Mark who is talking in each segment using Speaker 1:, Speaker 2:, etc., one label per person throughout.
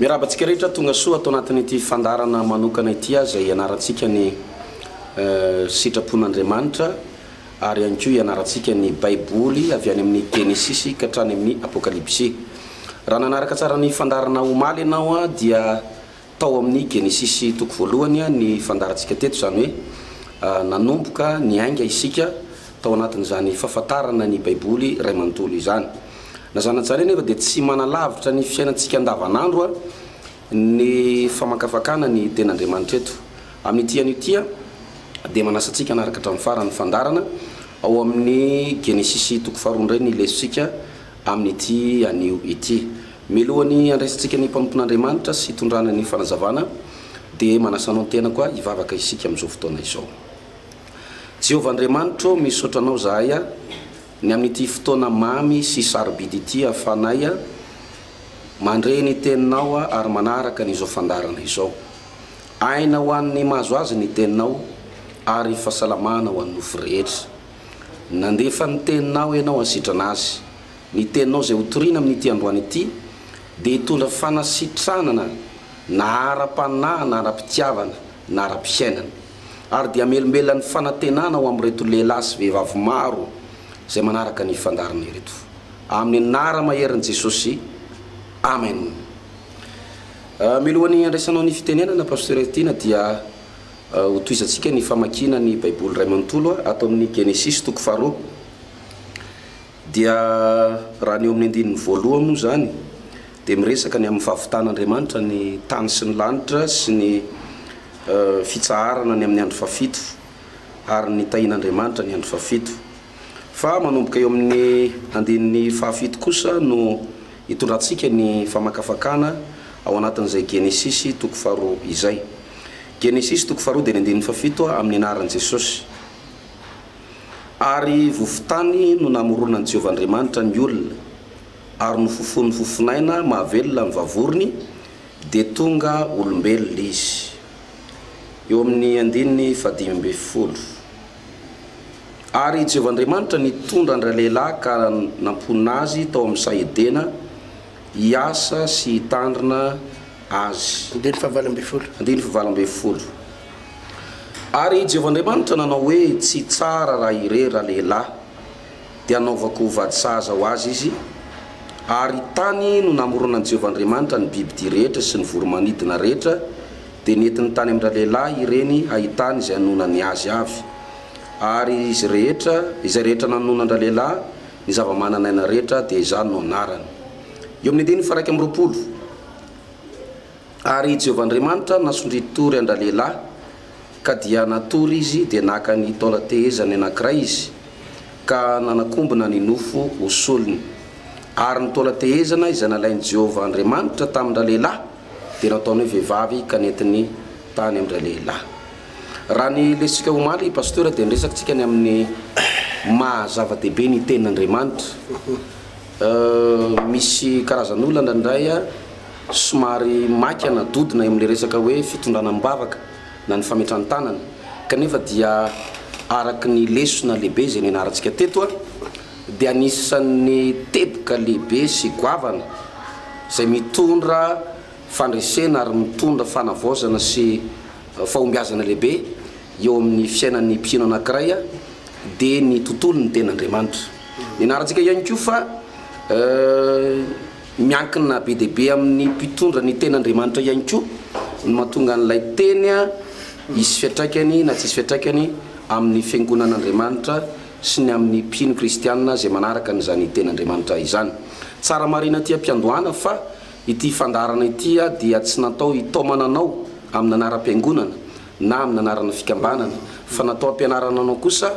Speaker 1: Miarahaba antsika rehetra tonga soa ato anatin'ity fandaharana manokana ity aza hianarantsika ny sitrapon'Andriamanitra ary ihany koa hianarantsika ny Baiboly avy any amin'ny Genesisy ka hatrany amin'ny Apokalypsy. Raha nanaraka tsara ny fandaharana omaly ianao dia tao amin'ny Genesisy toko voalohany ny fandaharantsika teto izany hoe nanomboka niainga isika tao anatin'izany fahafantarana ny Baiboly iray manontolo izany. Na zanatsary anefa dia tsy manalavitra ny fiainantsika andavanandro ny famakafakana ny Tenin'Andriamanitra eto. Amin'ity anio ity dia manasa antsika hanaraka hatramin'ny farany ny fandaharana ao amin'ny Genesisy toko faharoa indray ny lesotsika amin'ity anio ity. Mialohan'ny handraisantsika ny mpanompon'Andriamanitra sy hitondrana ny fanazavana dia manasa anao ny tenako hivavaka isika amin'izao fotoana izao. Jehovah Andriamanitro ô, misaotra Anao izahay ny amin'ity fotoana mamy sy sarobidy ity ahafahanay mandre ny Teninao ary manaraka an'izao fandaharana izao. Aina ho an'ny mahazo azy ny Teninao ary fahasalamana ho an'ny nofo rehetra. Nandefa ny Teninao Ianao hasitrana azy. Ny Teninao izay hotorina amin'ity androany ity dia hitondra fanasitranana na ara-panahy na ara-pitiavana na ara-piainana. ary dia hamelombelona ny fanantenana ho amin'ireto lehilahy sy vehivavy maro izay manaraka ny fandaharana ireto. Amin'ny anara maherin'i Jesosy, Amen. Mialohan'ny handraisanao ny fitenenana, Pasteur Heritiana, dia ho tohizantsika ny famakiana ny Baiboly iray manontolo ato amin'ny Genesisy toko faharoa. Dia raha ny eo amin'ny andininy voaloha moa izany dia miresaka ny amin'ny fahavitan'Andriamanitra ny tany sy ny lanitra sy ny fitsaharana ny amin'ny andro fahafito ary ny tahin'Andriamanitra ny andro fahafito. Fa manomboka eo amin'ny andininy fahafito kosa no itondrantsika ny famakafakana ao anatin'izay Genesisy toko faharoa izay. Genesisy toko faharoa dia ny andininy fahafito amin'ny anaran'i Jesosy. Ary vovon-tany no namoronan'i Jehovah Andriamanitra ny olona. ary nofofoiny fofonaina mahavelona ny vavorony, dia tonga olombelona izy. Eo amin'ny andininy fahadimy ambin'ny folo. Ary i Jehovah Andriamanitra nitondra an-dralehilahy ka namponina azy tao amin'ny saha Edena hiasa sy hitandrina azy. Andininy fahavalo ambin'ny folo. Andininy fahavalo ambin'ny folo. Ary i Jehovah Andriamanitra nanao hoe, Tsy tsara raha irery ralehilahy. dia hanaovako ho vady sahaza ho azy izy, ary tany no namoronan'i Jehovah Andriamanitra ny bibidia rehetra sy ny voromanidina rehetra, dia nentiny tany amin-dralehilahy ireny hahitany izay hanonany azy avy. Ary izy rehetra, izay rehetra nanona an-dralehilahy, ny zava-manan'aina rehetra, dia izany no anarany. Eo amin'ny andininy faha-iraika amby roapolo. Ary Jehovah Andriamanitra nasondriany tory an-dralehilahy, ka dia natory izy, dia naka ny taolan-tehezany anankiray izy, ka nanakombona ny nofo ho solony. Ary ny taolan-tehezana izay nalain'i Jehovah Andriamanitra tamin-dralehilahy, dia nataony hoe vehivavy, ka nentiny tany amin-dralehilahy. Raha ny lesintsika omaly, Pasteur, dia niresaka tsika ny amin'ny maha zava-dehibe ny Tenin'Andriamanitra. Misy karazan'olona indraindray, Somary maika na dodona eo amin'ilay resaka hoe fitondrana amim-bavaka na ny fametran-tanana, kanefa dia araka ny lesona lehibe izay nianarantsika teto dia anisan'ny teboka lehibe sy goavana izay mitondra fandresena ary mitondra fanavaozana sy fahombiazana lehibe eo amin'ny fiainan'ny mpino anankiray dia ny tontolon'ny tenin'Andriamanitra. Nianarantsika ihany koa fa. Miankina be dia be amin'ny mpitondra ny tenin'Andriamanitra ihany koa ny mahatonga an'ilay teny hisy fiantraikany na tsy hisy fiantraikany amin'ny fiangonan'Andriamanitra sy ny amin'ny mpino kristiana izay manaraka an'izany tenin'Andriamanitra izany. Tsara marina aty am-piandohana fa ity fandaharana ity dia tsy natao hitaomana anao amin'ny anaram-piangonana na amin'ny anarana fikambanana fa natao hampianarana anao kosa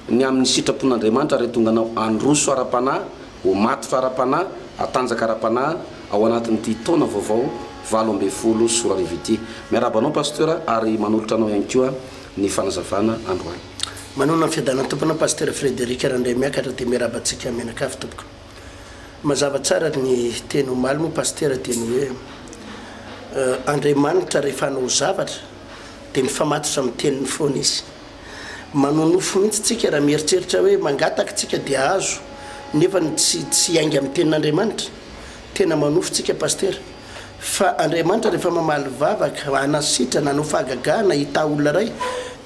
Speaker 1: ny amin'ny sitrapon'Andriamanitra ary hahatonga anao handroso ara-panahy Ho matotra ara-panahy, hatanjaka ara-panahy ao anatin'ity taona vaovao valo ambin'ny folo sy roa arivo ity. Miarahaba anao Pasteur ary manolotra anao ihany koa ny fanazavana androany. Manoana ny fiadanan'ny
Speaker 2: Tompo anao Pasteur Frederic Randraimiakatra dia miarahaba antsika mianakavy tompoko. Mazava tsara ary ny teny omaly moa Pasteur dia ny hoe Andriamanitra rehefa hanao zavatra dia mifamatotra amin'ny teniny foana izy. Manonofy mihitsy tsika raha mieritreritra hoe mangataka tsika dia ahazo nefa ny tsy tsy hiainga amin'ny tenin'Andriamanitra. Tena manonofy tsika Pasitera. Fa Andriamanitra rehefa mamaly vavaka, hanasitrana, hanao fahagagana, hitaha olona iray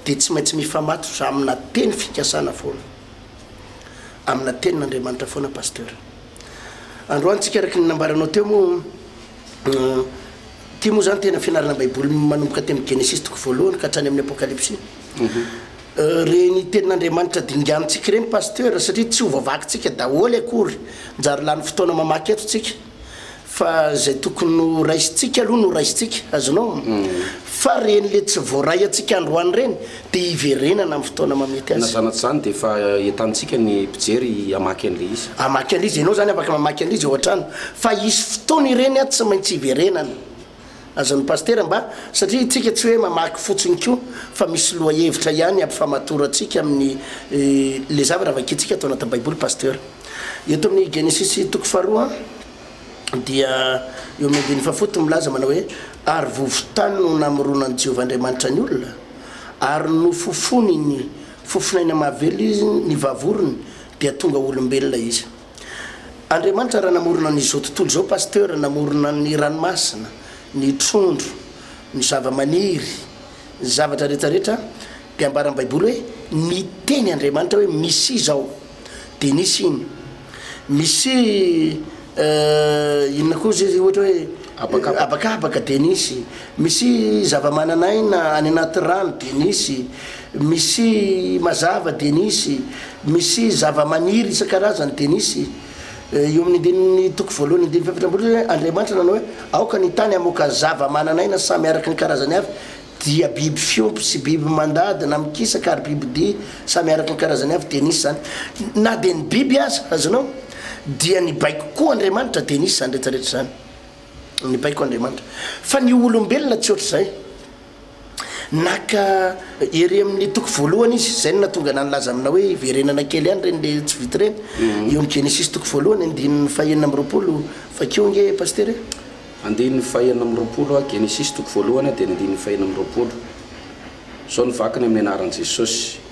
Speaker 2: dia tsy maintsy mifamatotra amina teny fikasana foana. Amina tenin'Andriamanitra foana Pasteur. Androany tsika araka ny nambaranao teo moa. Ity moa izany tena fianarana Baiboly manomboka aty amin'ny Genesisy toko voalohany ka hatrany amin'ny Apokalypsy. Ireny tenin'Andriamanitra dinganintsika ireny Pasteur satria tsy ho vavakintsika daholo akory. Mijaly lany fotoana mamaky eto tsika fa izay tokony ho raisintsika aloha no raisintsika, azonao? Fa ireny le tsy voaray antsika androany ireny dia hiverenana amin'ny fotoana mamety azy. Na zanatry izany dia efa
Speaker 1: entanintsika ny mpijery hamaky an'ilay izy. Hamaky an'ilay izy, ianao izany
Speaker 2: afaka mamaky an'ilay izy ao an-trano fa hisy fotoana ireny an tsy maintsy hiverenana. Azon'ny Pasitera mba, satria isika tsy hoe mamaky fotsiny koa fa misy lohahevitra ihany ampifamatorantsika amin'ny ilay zavatra vakintsika ato anatin'ny Baiboly Pasitera. Eto amin'ny Genesisy toko faharoa dia eo amin'ny andininy fahafolo dia milaza manao hoe, Ary vovon-tany no namoronan'i Jehovah Andriamanitra ny olona. ary nofofony ny fofon'aina mahavelo izy, ny vavorony dia tonga olombelona izy. Andriamanitra raha namorona ny izao tontolo izao Pasteur namorona ny ranomasina, ny trondro, ny zavamaniry, ny zavatra rehetra rehetra dia ambaran'ny baiboly hoe niteny Andriamanitra hoe misy izy ao. Denis iny. Misy eh, inona koa izy ohatra hoe Habakabaka. habakabaka Denis. Misy zavamananaina any anaty rano Denis. Misy mazava Denis. Misy zavamaniry isan-karazany Denis. Eh, Eo amin'ny andininy toko voalohany andininy fahafatrambolo hoe Andriamanitra nanao hoe aoka ny tany hamoaka zavamananaina samy araka ny karazany avy dia biby fiompy sy biby mandady na mikisaka ary bibidia samy araka ny karazany avy dia nisy izany na dia ny biby aza, azonao? dia nibaiko koa Andriamanitra dia nisy izany rehetra rehetra izany nibaiko Andriamanitra fa ny olombelona tsy ohatr'izay naka ery amin'ny toko voalohany izy izay no nahatonga anah nilaza aminao hoe hiverenana kely ihany ireny le tsy vita ireny eo amin'ny Genesisy toko voalohany andininy fahenina amby roapolo vakio ange Pasitera e! Andininy
Speaker 1: fahenina amby roapolo, Genesisy toko voalohany dia ny andininy fahenina amby roapolo. Izao ny vakiny amin'ny anaran'i Jesosy,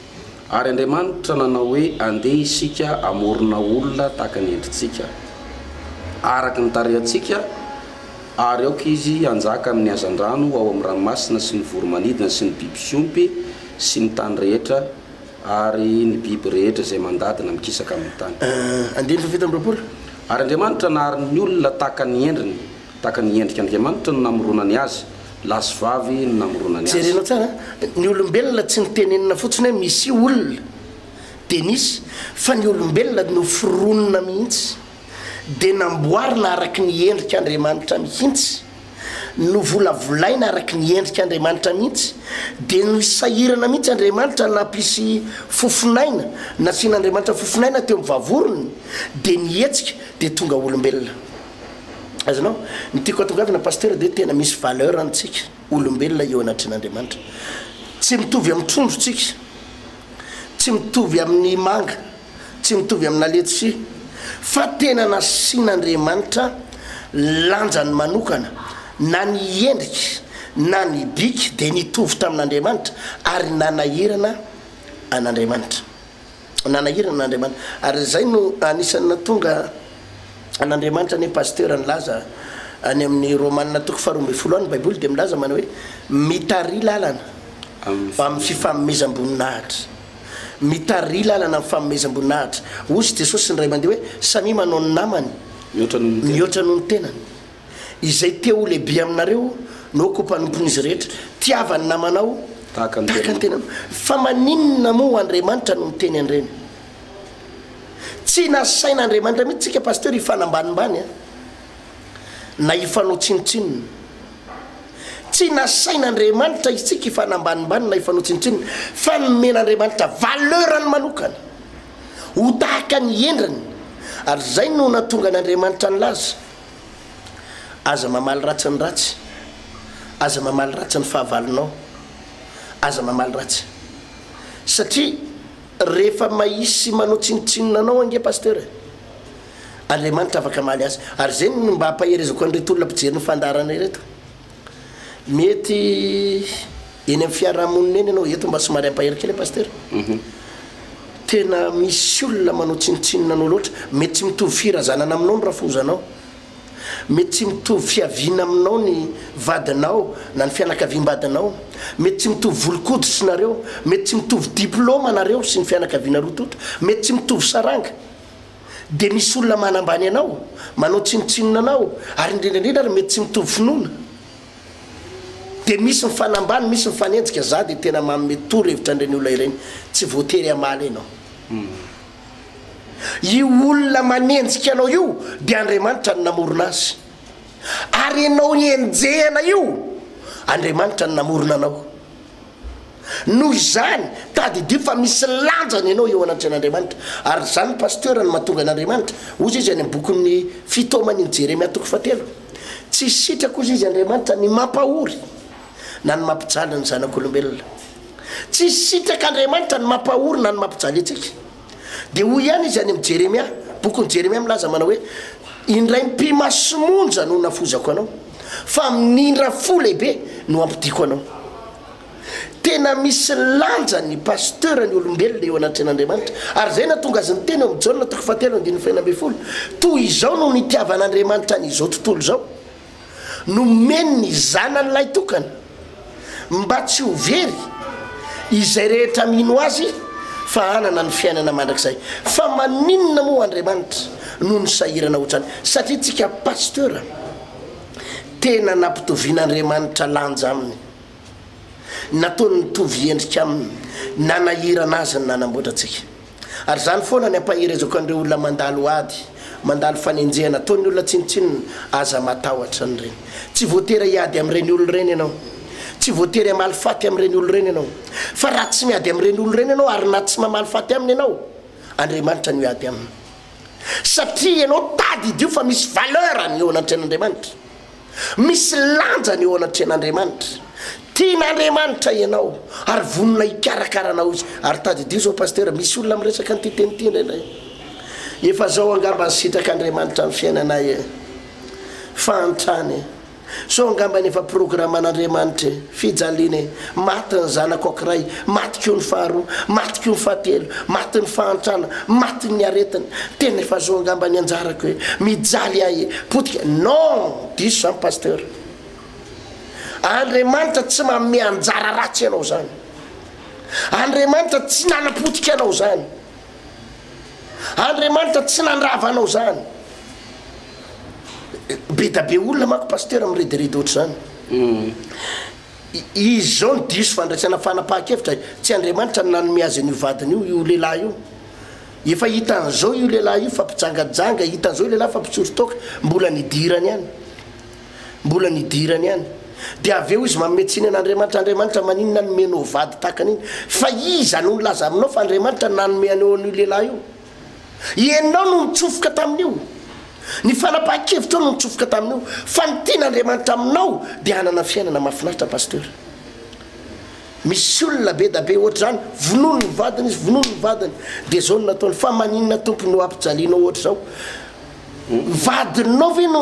Speaker 1: Ary Andriamanitra nanao hoe, Andeha isika hamorona olona tahaka ny endritsika, araka ny tarehantsika, ary aoka izy hanjaka amin'ny hazandrano ao amin'ny ranomasina sy ny voromanidina sy ny biby fiompy sy ny tany rehetra, Ary ny biby rehetra izay mandady na mikisaka amin' ny tany. Andininy fahafito amby
Speaker 2: roapolo. Ary Andriamanitra
Speaker 1: nahary ny olona tahaka ny endriny, tahaka ny endrik' Andriamanitra no namoronany azy, lahy sy vavy no namoronany azy. Jerenao tsara a! Ny
Speaker 2: olombelona tsy nitenenina fotsiny hoe misy olona dia nisy, fa ny olombelona noforonina mihitsy, dia namboarina araka ny endrik' Andriamanitra mihitsy. Novolavolaina araka ny endrik' Andriamanitra mihitsy, dia nosahirana mihitsy Andriamanitra nampisy fofon'aina, nasian'Andriamanitra fofon'aina teo amin'ny vavorony, dia nihetsika dia tonga olombelona. Azonao? Ny tiako hatongavana Pasitera dia hoe tena misy valeur antsika olombelona eo anatrehan'Andriamanitra. Tsy mitovy amin'ny trondro tsika, tsy mitovy amin'ny manga. tsy mitovy amina letisia fa tena nasian'Andriamanitra lanjany manokana na ny endrika na ny bika dia nitovy tamin'Andriamanitra ary nanahirana an'Andriamanitra nanahirana an'Andriamanitra ary izay no anisan'ny natonga an'Andriamanitra anie pasteur nilaza any amin'ny Romana toko faharoa ambin'ny folo any baiboly dia milaza manao hoe mitari lalana amin'ny fifanomezam-boninahitra Mitariha lalana ny fanomezam-boninahitra. Hoy Jesosy indray mandeha hoe, Samia manao ny namany mihoatra noho ny tenany. Izay te ho lehibe aminareo no ko mpanompon'izy rehetra. Tiava ny namanao tahaka ny tenanao. Fa maninona moa Andriamanitra no niteny an'ireny? Tsy nasain'Andriamanitra mihitsy tsika Pasteur hifanambanimbany a! na hifanao tsinontsinona. Tsy nasain'Andriamanitra isika hifanambanimbany na hifanao tsinontsinona fa nomen'Andriamanitra valeur-ny manokana ho tahaka ny endriny ary izay no nahatonga an'Andriamanitra nilaza, Aza mamaly ratsy ny ratsy, aza mamaly ratsy ny fahavalonao, aza mamaly ratsy. Satria rehefa mahisy manao tsinontsinona anao ange Pasteur e! Andriamanitra afaka hamaly azy. Ary izay no mba hampaherezako an'ireto olona mpijery ny fandaharana ireto. Mety eny amin'ny fiarahamonina eny ianao, eto mba somary hampahery kely Pasteur. Mhm. Tena misy olona manao tsinontsinona anao loatra. Mety tsy mitovy firazanana aminao ny rafozanao. Mety tsy mitovy fiaviana aminao ny vadinao na ny fianakaviam-badinao. Mety tsy mitovy volon-koditry nareo. Mety tsy mitovy diplaoma nareo sy ny fianakaviana roa tonta. Mety tsy mitovy saranga. dia misy olona manambany anao, manao tsinontsinona anao, ary indrindra indrindra ary mety tsy mitovy finoana. Dia misy mifanambany, misy mifanenjika, za dia tena manome toro hevitra an'ireny olona ireny, tsy voatery hamaly ianao. Io olona manenjika anao io dia Andriamanitra no namorona azy. Ary ianao enjehana io, Andriamanitra no namorona anao. Noho izany, tadidio fa misy lanjany ianao eo anatrehan'Andriamanitra. Ary izany, Pasteur, no mahatonga an'Andriamanitra, hoy izy, any amin'ny bokin'ny Fitaoman'i Jeremia toko fahatelo, Tsy sitrako, hoy izy, Andriamanitra ny mampahory na ny mampijaly ny zanak'olombelona. Tsy sitrak'Andriamanitra ny mampahory na ny mampijaly antsika. Dia hoy ihany Izy any amin'i Jeremia, bokin'i Jeremia milaza manao hoe, Indray mpimasy monja no nafozako anao, fa amin'indra fo lehibe no hampodiako anao. Tena misy lanjany ny pasteur ny olombelona eo anatrehan'Andriamanitra. Ary izay nahatonga azy niteny ao amin'ny Jaona toko fahatelo andininy fahenina ambin'ny folo, Toy izao no nitiavan'Andriamanitra an'izao tontolo izao, nomeny ny Zanany lahitokana, mba tsy ho very izay rehetra mino Azy fa hanana ny fiainana mandrakizay. Fa maninona moa Andriamanitra no nisahirana hotrany? Satria tsika Pasteur tena nampitovian'Andriamanitra lanja aminy. Nataony nitovy endrika aminy, nanahirana azy ny nanamboatra antsika. Ary izany foana ny ampaherezako an'ireo olona mandalo ady, mandalo fanenjehana ataon'ny olona tsinontsinona, aza matahotra an'ireny. Tsy voatery hiady amin'ireny olona ireny ianao. Tsy voatery hamaly faty amin'ireny olona ireny ianao. Fa raha tsy miady amin'ireny olona ireny ianao ary na tsy mamaly faty aminy ianao, Andriamanitra no hiady aminy. Satria ianao tadidio fa misy valeur ny eo anatrehan'Andriamanitra. Misy lanjany eo anatrehan'Andriamanitra. Tian'Andriamanitra ianao ary vonona hikarakara anao Izy. Ary tadidio izao Pasitera, misy olona miresaka an'ity teny ity indraindray. Efa zao angamba ny sitrak'Andriamanitra amin'ny fiainanay e. Fahantrana e. Sao angamba ny efa programan'Andriamanitra e. Fijaliana e! Maty ny zanako ankiray, maty koa ny faharoa, maty koa ny fahatelo, maty ny fahantrana, maty ny aretina. Tena efa zao angamba ny anjarako e! Mijaly ahy e! Potika! Non! Diso izany Pasteur. Andriamanitra tsy manome anjara ratsy anao izany. Andriamanitra tsy nanapotika anao izany. Andriamanitra tsy nandrava anao zany. Be da be olona manko Pasteur mirediredy ohatr'izany. Izy izao no diso fandraisana fanapahan-kevitra, tsy Andriamanitra no nanome azy an'io vadiny io io lehilahy io. Efa hitan'izao io lehilahy io fa mpijanganjanga, hitan'izao io lehilahy fa mpitsory toaka, mbola ny hidirany ihany. Mbola ny idirany ihany. Dia avy eo izy manome tsiny an'Andriamanitra, Andriamanitra maninona nomenao vady tahaka an'iny? Fa iza no nilaza aminao fa Andriamanitra nanome anao an'io lehilahy io? Ianao no nitsofoka tamin'io. Ny fanapahan-kevitrao no nitsofoka tamin'io. Fa ny tian'Andriamanitra aminao dia hanana fiainana mahafinaritra Pasteur. Misy olona be da be ohatr'izany, vonoiny ny vadiny izy, vonoiny ny vadiny. Dia izao no nataony, fa maninona Tompo no ampijalianao ohatr'izao? Ny vadinao ve no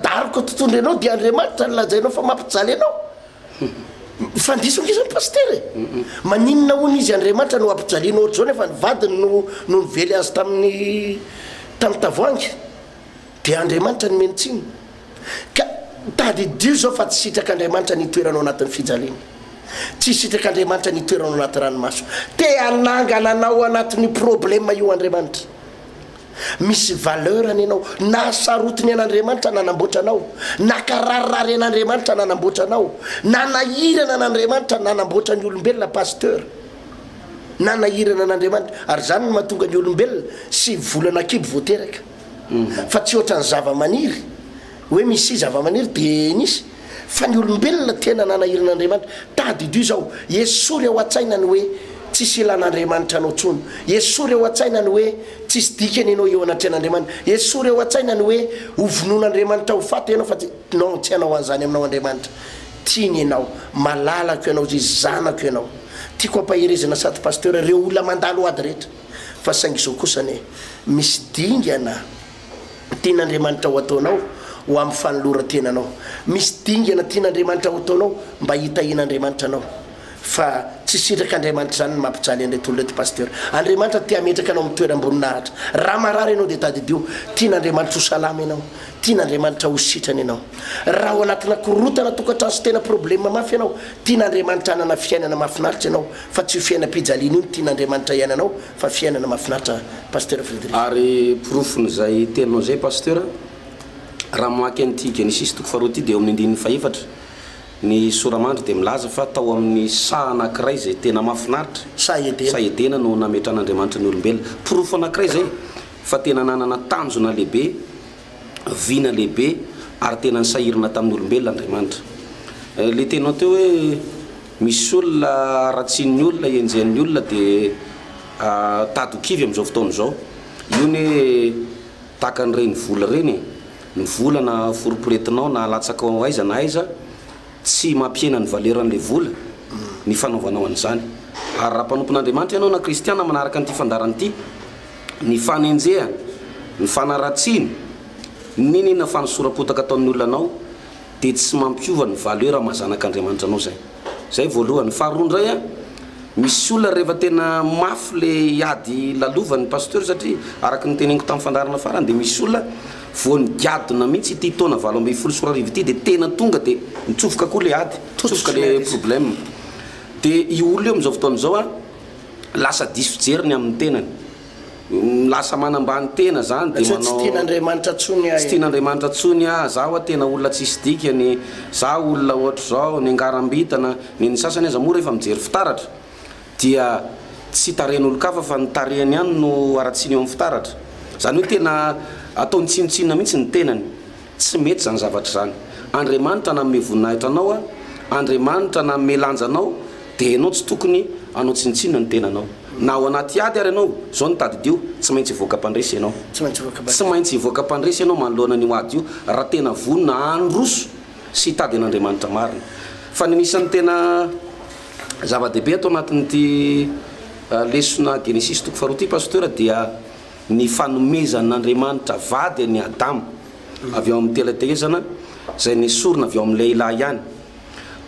Speaker 2: daroka totoindry anao dia Andriamanitra no lazainao fa mampijaly anao? Fa diso nge zany Pasitera e! Maninona hono izy Andriamanitra no ampijaliana ohatr'izao nefa ny vadiny no no nively azy tamin'ny tamin'ny tavoahangy? Dia Andriamanitra no mino tsiny? Ka tadidio izao fa tsy sitrak'Andriamanitra ny hitoeranao anatin'ny fijaliana. Tsy sitrak'Andriamanitra ny hitoeranao anaty ranomaso. Te hanangana anao anatin'io problème io Andriamanitra. Misy valeur anie ianao. Nahasarotiny an'Andriamanitra nanamboatra anao. Nakararirarian'Andriamanitra nanamboatra anao. Nanahirana an'Andriamanitra nanamboatra ny olombelona Pasteur. Nanahirana an'Andriamanitra. Ary izany no mahatonga ny olombelona sivy volana an-kibo vao teraka. Fa tsy ohatran'ny zava-maniry. Hoe misy zavamaniry dia nisy, fa ny olombelona tena nanahiran' Andriamanitra. Tadidio izao, esory ao an-tsaina ny hoe tsisy ilan' Andriamanitra anao intsony. Esory ao an-tsaina ny hoe tsisy dikany ianao eo anatrehan' Andriamanitra. Esory ao an-tsaina ny hoe hovonoin' Andriamanitra ho faty ianao, fa tsy, non, tsy hanao an'izany aminao Andriamanitra. Tiany ianao. Malalako ianao izay izy, zanako ianao. Tiako hampaherezana sady Pasteur ireo olona mandalo ady rehetra. Fa saingy izao kosa anie, misy dingana. tian'Andriamanitra ho ataonao ho amin'ny fanoloran-tenanao. Misy dingana tian'Andriamanitra ho ataonao mba hitahian'Andriamanitra anao. Fa tsy sitrak'Andriamanitra izany ny mampijaly an'ireto olona ireto Pasteur. Andriamanitra te hametraka anao amin'ny toeram-boninahitra. Raha marary ianao dia tadidio. Tian'Andriamanitra ho salama ianao. Tian'Andriamanitra ho sitrany ianao. Raha ao anatina korontana tokantrano sy tena problème mafy ianao, tian'Andriamanitra hanana fiainana mahafinaritra ianao. Fa tsy io fiainam-pijaliana io no tian'Andriamanitra hiainanao fa fiainana mahafinaritra Pasteur Frederick. Ary porofon'izay
Speaker 1: teninao izay Pasteur, raha mamaky an'ity Genesisy toko faharoa ity dia eo amin'ny andininy fahefatra, ny sora-mandry dia milaza fa tao amin'ny saha anankiray izay tena mahafinaritra, Saha Edena. saha Edena no nametrahan'Andriamanitra ny olombelona. Porofo anankiray izay fa tena nanana tanjona lehibe, vina lehibe ary tena nisahirana tamin'ny olombelona Andriamanitra. Ilay teninao teo hoe. Misy olona haratsian'ny olona, henjehin'ny olona dia tady ho kivy amin'izao fotoana izao. Io anie tahaka an'ireny vola ireny e! Ny vola na foriporetinao na alatsakao aiza na aiza, tsy mampihena ny valeran'ilay vola ny fanaovanao an'izany. Ary raha mpanompon'Andriamanitra ianao na kristiana manaraka an'ity fandaharana ity, ny fanenjehana, ny fanaratsiana, n'inon'inona fanosoram-potaka ataon'ny olona anao, dia tsy mampiova ny valeur maha zanak'Andriamanitra anao izay. Izay voalohany. Faharoa indray an, misy olona rehefa tena mafy le ady lalovany Pasteur satria araka ny teneniko tamin'ny fandaharana farany dia misy olona vao nigadona mihitsy ity taona valo ambin'ny folo sy roa arivo ity dia tena tonga dia nitsofoka koa le ady, nitsofoka le problème. Dia io olona io amin'izao fotoana izao an, lasa diso fijery ny amin'ny tenany. lasa manambany tena zany de manao, tsy tian'Andriamanitra tsony ahy, tsy tian'Andriamanitra tsony ahy, za wa tena olona tsisy dikany, za olona ohatr'izao, nengarambitana, ny ny sasany aza moa rehefa mijery fitaratra dia tsy tarehin'olon-kafa fa ny tarehiny ihany no aratsiny eo amin'ny fitaratra, zany hoe tena ataony tsinontsinona mihitsy ny tenany. Tsy mety izany zavatra izany. Andriamanitra nanome voninahitra anao a! Andriamanitra nanome lanja anao dia ianao tsy tokony hanao tsinontsinona ny tenanao. Na ao anaty ady ary ianao, izao no tadidio, tsy maintsy hivoaka mpandresy ianao. Tsy maintsy hivoaka mpandresy ianao manoloana an'io ady io raha tena vonona handroso sy hitady an'Andriamanitra marina. Fa ny anisan'ny tena zava-dehibe ato anatin'ity lesona Genesisy toko faharoa ity Pasteur dia ny fanomezan'Andriamanitra vady an'i Adama avy ao amin'ny tela-tehezana izay nesorina avy ao amin'ny lehilahy ihany.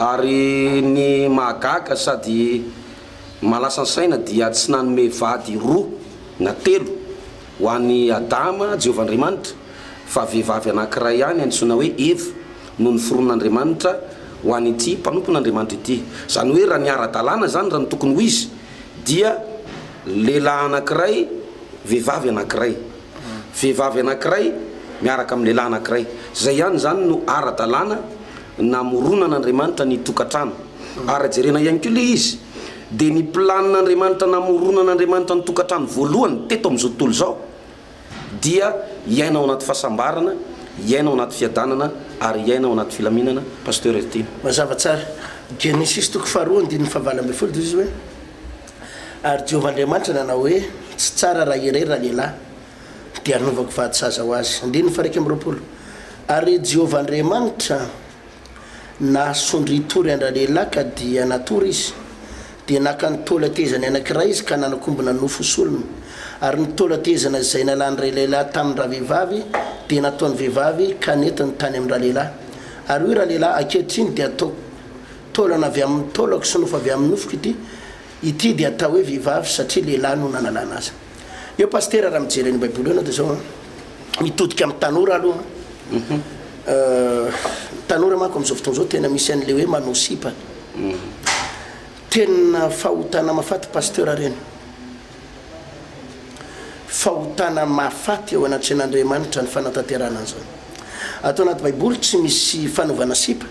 Speaker 1: Ary ny mahagaga sady malasan-saina dia tsy nanome vady roa na telo ho an'i Adama Jehovah Andriamanitra fa vehivavy anankiray ihany antsoina hoe Eva no noforon'Andriamanitra ho an'ity mpanompon'Andriamanitra ity. Izany hoe raha ny ara-dalàna izany raha ny tokony ho izy, dia lehilahy anankiray, vehivavy anankiray. Vehivavy anankiray miaraka amin'ny lehilahy anankiray. Izay ihany izany no ara-dalàna namoronan'Andriamanitra ny tokantrano. Ary raha jerena ihany koa ilay izy, dia ny planina Andriamanitra namoronan'Andriamanitra ny tokantrano voalohany teto amin'izao tontolo izao, dia hiaina ao anaty fahasambarana, hiaina ao anaty fiadanana ary hiaina ao anaty filaminana Pasteur Heritiana. Mazava tsara.
Speaker 2: Genesisy toko faharoa andininy fahavalo ambin'ny folo dia hoy izy hoe, Ary Jehovah Andriamanitra nanao hoe, Tsy tsara raha irery ralehilahy, dia hanovako vady saza ho azy. Andininy faha iraika amby roapolo, Ary Jehovah Andriamanitra. Nahasondry Tory an-dRalehilahy ka dia natory izy. Dia naka ny taola tehezany anankiray izy ka nanakombona nofo solony. Ary ny taola tehezana izay nalan-dRalehilahy tamin-dRavehivavy dia nataon'ny vehivavy ka nentiny tany amin-dRalehilahy. Ary hoy Ralehilahy, Ankehitriny dia ataoko taolana avy amin'ny taolako sy nofo avy amin'ny nofoko ity. Ity dia atao hoe vehivavy satria lehilahy no nanalana azy. Eo pasitera raha mijery an'io baiboly io ianao dia izao an, mitodika amin'ny tanora aloha an, ny tanora manko amin'izao fotoana izao tena misy an'ilay hoe manao sipa, tena fahotana mafaty pasteur ireny, fahotana mafaty eo anatrehan'Andriamanitra ny fanatanterahana an'izany. Ato anaty baiboly tsy misy fanaovana sipa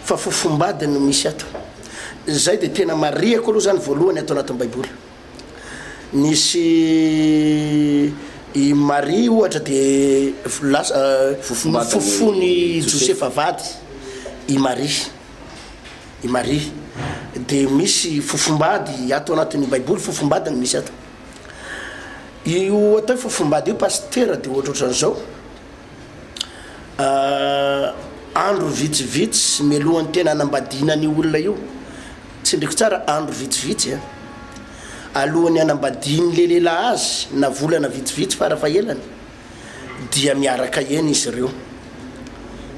Speaker 2: fa fofombady no misy ato, izay dia tena marihako aloha izany voalohany ato anatin'ny baiboly. Nisy i Maria ohatra dia lasa nofofoin'i Josefa vady i Maria, i Maria. Dia misy fofombady ato anatin'ny baiboly, fofombady no misy ato. Io atao hoe fofombady io pasitera dia ohatrohatran'izao, andro vitsivitsy mialohan'ny tena hanambadiana an'io olona io Tsindriko tsara, andro vitsivitsy alohan'ny hanambadian'ilay lehilahy azy, na volana vitsivitsy fara fahelany, dia miaraka eny izy ireo.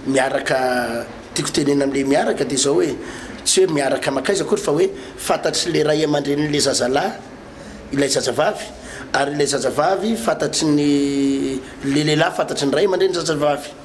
Speaker 2: Miaraka, tiako tenenina amin'ilay miaraka dia izao hoe, tsy hoe miaraka mankaiza akory fa hoe fantatry ilay ray aman-drenin'ilay zazalahy ilay zazavavy, ary ilay zazavavy fantatry ny, ilay lehilahy fantatry ny ray aman-drenin'ny zazavavy.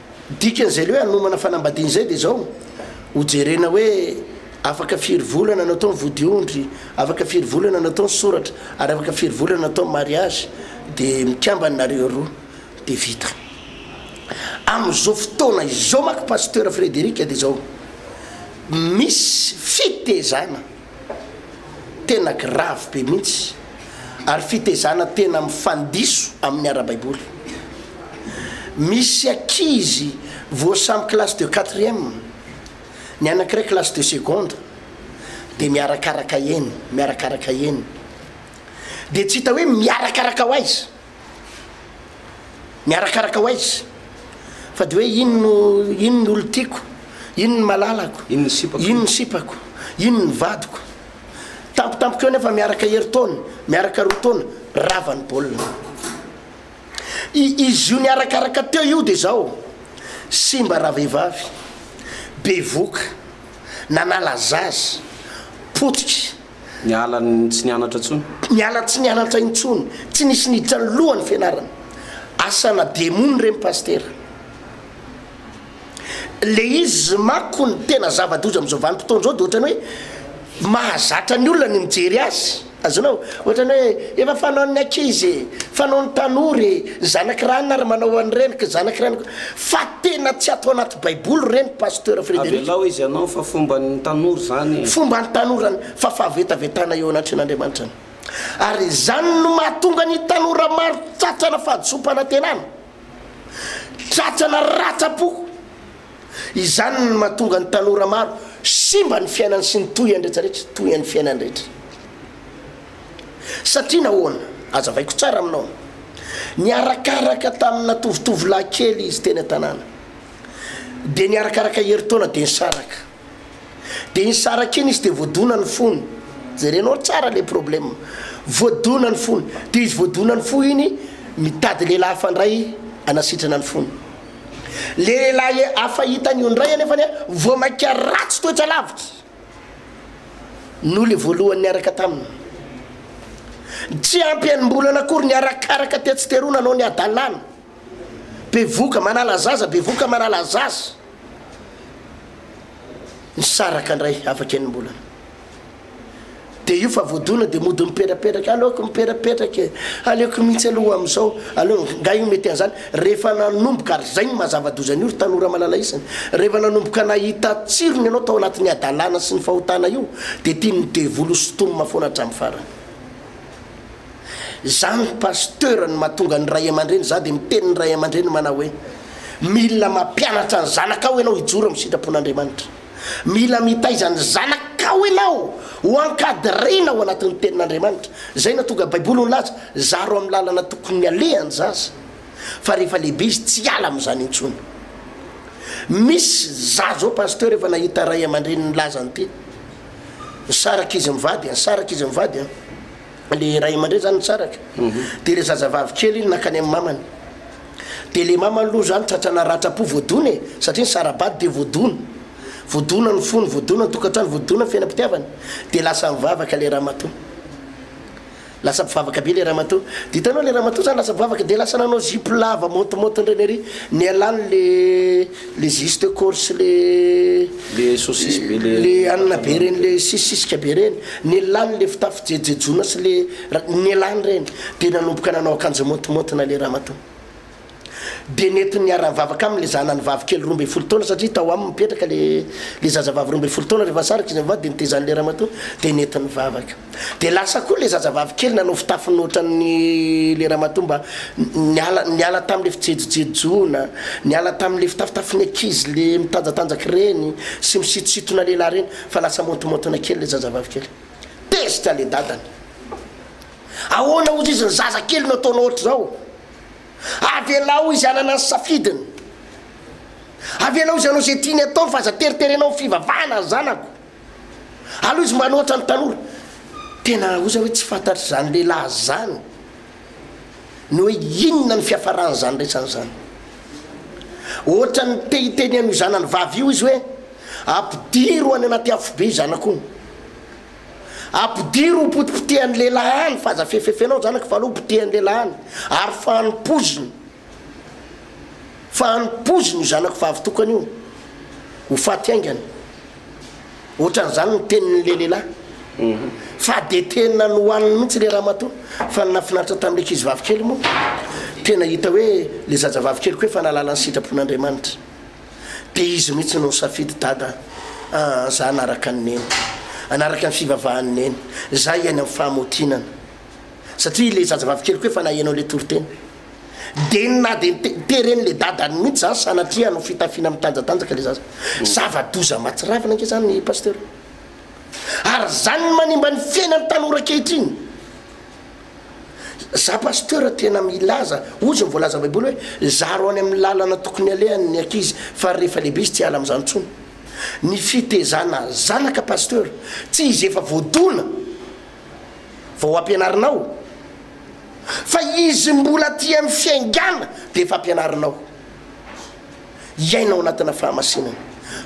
Speaker 2: Dikan'izay le hoe hanomana fanambadiana izay dia izao, ho jerena hoe afaka firy volana no atao ny vodiondry, afaka firy volana no atao ny soratra ary afaka firy volana no atao ny mariazy dia mikambana nareo roa dia vita. Amin'izao fotoana izao manko Pasteur Frederic dia izao, misy fitezana. tena gravy be mihitsy ary fitezana tena mifandiso amin'ny ara-baiboly. Misy ankizy vao samy classe de quatrième, ny anankiray classe de seconde dia miarakaraka eny, miarakaraka eny, dia tsy hita hoe miarakaraka ho aiza? Miarakaraka ho aiza? Fa de hoe inn no inn ny olon-tiako, inn ny malalako, inn ny sipako, inn ny vadiko. Tampotampoka eo nefa miaraka herintaona, miaraka roa taona, rava ny baolina. I izy io niarakaraka teo io de zao simba ravehivavy, bevoka, nanala zaza, potika. Niala
Speaker 1: tsy nianatra intsony. Niala tsy nianatra intsony. Tsy nisy niditra ny lohany fianarana. Asana demony ireny Pasitera. Ilay izy manko ny tena zava-doza amin'izao vanim-potoana izao dia ohatran'ny hoe mahazatra ny olona ny mijery azy. Azonao? Ohatran'ny hoe efa fanaon'ny ankizy e, fanaon'ny tanora e, ny zanak'i ranona ary manao an'ireny, zanaky ranoko. Tena tsy ato anaty baiboly reny pasteur Frederic. Avelao izy anao fa fomban'ny tanora izany e. Fomban'ny tanora ny
Speaker 2: fa fahavetavetana eo anatrehan'Andriamanitra ny. Ary izany no mahatonga ny tanora maro tratrana fahadisoam-panantenana, tratrana ratsa-po. Izany no mahatonga ny tanora maro simba ny fiainany sy ny tohiny rehetra rehetra, tohian'ny fiainany rehetra. Satria nahoana? Hazavaiko tsara aminao. Niarakaraka tamina tovotovolahy kely izy teny an-tanàna. Dia niarakaraka herintaona dia nisaraka. Dia iny saraka iny izy dia voadona ny fony. Jerenao tsara ilay problème. Voadona ny fony. Dia izy voadona ny fo iny, mitady lehilahy hafa indray hanasitrana ny fony. Ilay lehilahy hafa hitany io indray anefany voamaika ratsy toetra lavitra. Noa ilay voalohany niaraka taminy. Tsy ampy enim-bolana akory ny arakaraka tetsy teroa nanao ny hadalana. Bevoka manala zaza, bevoka manala zaza. Nisaraka indray afaka enim-bolana. Dia io fa voadona dia mody miperaperaka, aleoko miperapetraka e, aleoko mihitsy aloha amin'izao, aleo, nga io mety an'izany? Rehefa nanomboka, ary izay no mahazava-doza an'io ry tanora malala isany, rehefa nanomboka nahita tsirony ianao tao anatin'ny hadalana sy ny fahotana io dia tian'ny devoly ho sintomina foana hatramin'ny farany. Izany Pasteur no mahatonga ny ray aman-dreny, izaho dia miteny ny ray aman-dreny manao hoe, mila mampianatra ny zanakao ianao hijoro amin'ny sitrapon'Andriamanitra. Mila mitaiza ny zanakao ianao ho ankadiriana ao anatin'ny Tenin'Andriamanitra. Izay no hahatonga Baiboly ho nilaza, Zaro amin'ny lalana tokony haleha ny zaza, fa rehefa lehibe izy tsy hiala amin'izany intsony. Misy zaza zao Pasteur efa nahita ray aman-dreniny nilaza an'ity, nisaraka izy mivady, nisaraka izy mivady an. le ray aman-dreny zany nitsaraka mhm. de le zazavavy kely iny nakany amin'ny mamany de le mamany aloha zany tratrana ratsa-po voadona e satria ny sarabady de voadona voadona ny fony voadona ny tokantrano voadona ny fiainam-pitiavana de lasa mivavaka le ramatoa lasa mpivavaka be le ramatoa de hitanao le ramatoa zany lasa mpivavaka de lasa nanao zipo lava montimontin'ireny ery nialany le Le juste corse le Le saucisse be
Speaker 1: le le hanina be reny
Speaker 2: le sisisika be reny, nellany le fitafy jejejona sy le ra, nellany reny de nanomboka nanao akanjo maotimaotina le ramatoa. De nety niara-nivavaka aminy le zanany vavy kely roa ambin'ny folo taona satria tao aminy mipetraka le le zazavavy roa ambin'ny folo taona rehefa nisaraka izy mivady de nitezan'le ramatoa de nety nivavaka. Dia lasa koa ilay zazavavy kely nanao fitafiny ohatran'ny ilay ramatoa mba niala niala tamin'ilay fijejojejoana, niala tamin'ilay fitafitafin'ny ankizy le mitanjatanjaka ireny sy misitositona lehilahy ireny fa lasa maontomaontona kely ilay zazavavy kely. Tezitra ilay dadany. Ahoana hozy izy ny zaza kely no ataonao ohatr'izao? Avelao izy hanana ny safidiny. Avelao izy hanao izay tiany atao fa aza teriterenao ny fivavahana ry zanako. Alou izy manohatra ny tanora. Tena oza hoe tsy fantatry zany lehilahy zany ny hoe inona ny fiafarany zany resany zany. Ohatrany te hiteny an'io zanany vavy io izy hoe ampidiro any anaty afo be zanako io. Ampidiro ho potipotehan'ny lehilahy any fa aza fefefenao zanako fa alou potehan'ny lehilahy any ary fanompoizina. fa hanompoiziny io zanako vavitokana io ho faty haingana, ohatran'izany ny tenin'ilay lehilahy. Mhm. Fa dia tena nohaniny mihitsy ilay ramatoa, fa ny nahafinaritra tamin'ilay ankizy vavikely moa, tena hita hoe ilay zaza vavikeliko hoe fa nahalala ny sitrapon'Andriamanitra. Dia izy mihitsy no nisafidy, Dada aa, za hanaraka an'i Neny, hanaraka ny fivavahan'i Neny, za hiaina amin'ny fahamaotinana, satria ilay zaza vavikeliko hoe fa naheno an'ilay toriteny. de ny na de ny tereny le dadany mihitsy zany sanatria no fitafiana mitanjatanjaka le zaza zava doza matsiravina nge zany ny pasteur ary zany ny manimba ny fiainany tanora ankehitriny za pasteur tena milaza ozy ny voalaza baiboly hoe zaro any amin'ny lalana tokony alehany ny akizy fa rehefa lehibe izy tsy ala am'izany tsony ny fitezana zanaka pasteur tsy izy efa voadona vao ampianarinao fa izy mbola aty amin'ny fiaingana dia efa ampianarinao hiaina ao anatina fahamasinana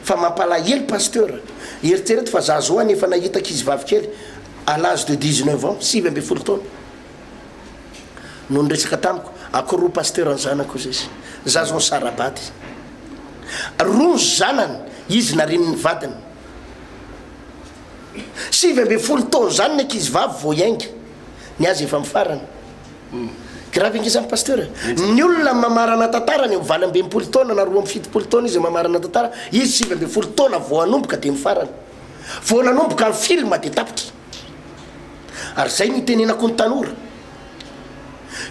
Speaker 2: fa mampalahelo pasteur eritrereto fa za zao any efa nahita ankizy vavy kely à l'âge de 19 ans sivy ambin'ny folo taona no niresaka tamiko akory pasteur ny zanako hoy izy za zao nisara-bady roa ny zanany izy narin'ny vadiny Sivy ambin'ny folo taona izany ny ankizivavy vao hiainga. Ny azy efa mifarana. Gravy ange izany Pasteur e. Ny olona mamarana tantara any amin'ny valo amby enimpolo taona na roa amby fitopolo taona izy mamarana tantara, izy sivy ambin'ny folo taona vao hanomboka dia mifarana. Vao nanomboka ny film dia tapitra. Ary izay no itenenako ny tanora.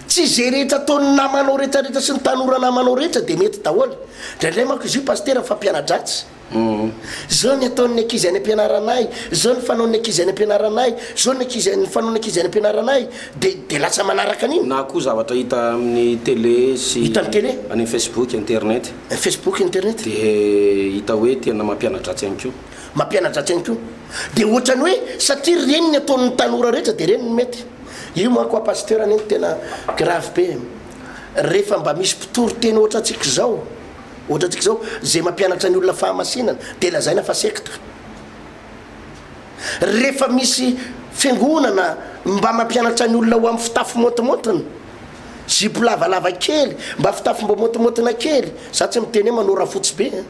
Speaker 2: Tsy izay rehetra ataon'ny namanao rehetra rehetra sy ny tanora namanao rehetra dia mety daholo. Indraindray manko izy io Pasteur fampianadratsy. Humm. Zao ny ataon'ny ankizy any ampianaranay, zao ny fanaon'ny ankizy any ampianaranay, zao ny ankizy, ny fanaon'ny ankizy any ampianaranay, dia, dia lasa manaraka an'iny. Na koa zavatra hita
Speaker 1: amin'ny tele sy. Hita amin'ny tele. Any amin'ny
Speaker 2: Facebook,
Speaker 1: internet. Facebook, internet.
Speaker 2: Dia hita
Speaker 1: hoe tena mampiana-dratsy ihany koa. Mampiana-dratsy ihany koa.
Speaker 2: Dia ohatran'ny hoe satria ireny ny ataon'ny tanora rehetra dia ireny no mety. Io manko ho'a Pasteur anie no tena grave be e. Rehefa mba misy mpitory teny ohatrantsika izao. Ohatrantsika izao, izay mampianatra ny olona fahamasinana dia lazaina fa sekta. Rehefa misy fiangonana mba mampianatra ny olona ho amin'ny fitafy montimontiny, zipo lavalava kely, mba fitafy mba montimontona kely, za tsy miteny hoe manao rafotsy be an!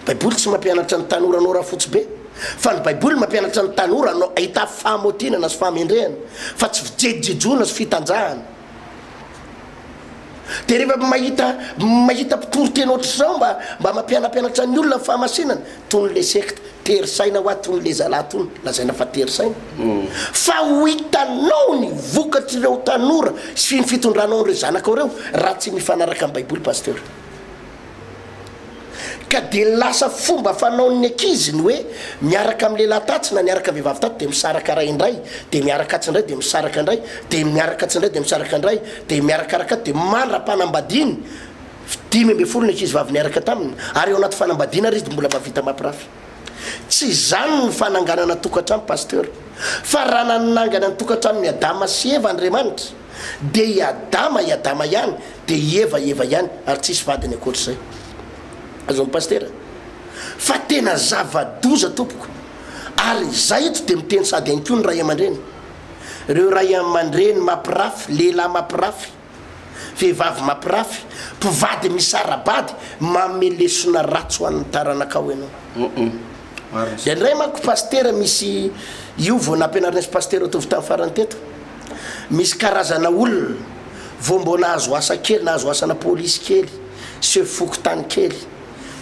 Speaker 2: Baiboly tsy mampianatra ny tanora hanao rafotsy be, fa ny Baiboly mampianatra ny tanora hanao hitafy fahamotinana sy fahamendrehana, fa tsy fijejojejoana sy fitanjahana. Dia rehefa mahita mahita mpitory teny ohatr'izao mba mba mampianampianatra ny olona ny fahamasinana toy ny le secte tery saina hoa toy ny le zalahy tony lazaina fa tery saina fa ho hitanao ny vokatr'ireo tanora sy ny fitondranao an'ireo zanakao ireo raha tsy mifanaraka amin'ny baiboly pasteur. Ka dia lasa fomba fanaon'ny ankizy ny hoe miaraka amin'ny lehilahy tatsy na niaraka vehivavy tatsy dia misaraka ray indray, dia miaraka atsy indray dia misaraka indray, dia miaraka atsy indray dia misaraka indray, dia miarakaraka atsy dia mandra-panambadiany, dimy ambin'ny folo ny ankizy vavy niaraka taminy, ary ao anaty fanambadiana ary izy dia mbola mahavita mampirafy. Tsy izany ny fananganana tokantrano Pasteur, fa raha nanangana ny tokantranon'i Adama sy Eva Andriamanitra dia i Adama i Adama ihany dia i Eva i Eva ihany ary tsisy vadiny ankoatr'izay. Azony Pasitera? Fa tena zava-doza tompoko. Ary izaho eto dia miteny sady ihany koa ny Ray aman-dreny. Ireo Ray aman-dreny mapirafy, lehilahy mapirafy. Vehivavy mampirafy, mpivady misara-bady, manome lesona ratsy ho an'ny taranakao ianao. Indraindray manko Pasitera misy, io vao nampianarinay sy Pasitera Tovotany farany teto, misy karazana olona vao mbô nahazo asa kely, nahazo asana polisy kely, chef fokontany kely,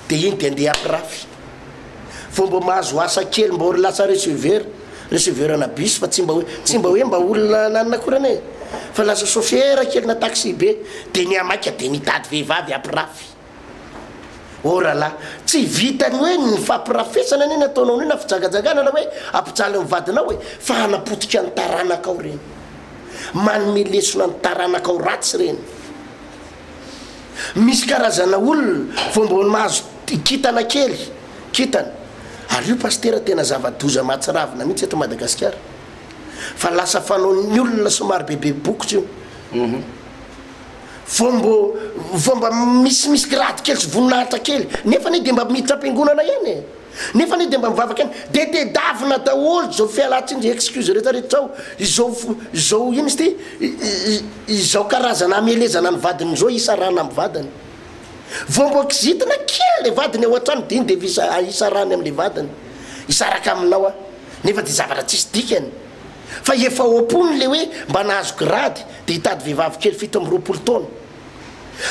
Speaker 2: dia iny dia ndeha hampirafy. Vao mba mahazo asa kely mba ory lasa receveur, receveur ana bus fa tsy mba hoe tsy mba hoe mba olona ananina akory anie fa lasa chauffeur kely na taxi be de miha maika de mitady vehivavy apirafy. Oh ra la, tsy vitan'ny hoe ny fampirafesana anie ny ataonao an'io na fijangajangana na hoe ampijaly ny vadinao e fa hanapotika ny taranakao reny, manome lesona ny taranakao ratsy reny. Misy karazana olona vao mbola mahazo kintana kely kintana ary io pasitera tena zava-doza mahatsiravina mihitsy eto Madagasikara fa lasa fanaon'ny olona somary bebe bokotra io vao mbo vao mba misimisy grade kely sy voninahitra kely nefa anie dia mba miditra am-piangonana ihany e! Nefa anie dia mba mivavaka ihany dia tedavina daholo izao fialantsiny izay excuse rehetra rehetra izao, izao izao inona izy ity? izao karazana hamelezana ny vadiny izao hisarahana amin'ny vadiny. Vao mba kizitina kely ilay vadiny ao an-trano dia iny dia efa hisa- hisarahany amin'ilay vadiny, hisaraka aminao aho, nefa dia zavatra tsisy dikany. Fa efa ao am-pony ilay hoe mba nahazo grady dia hitady vehivavy kely fito amby roapolo taona.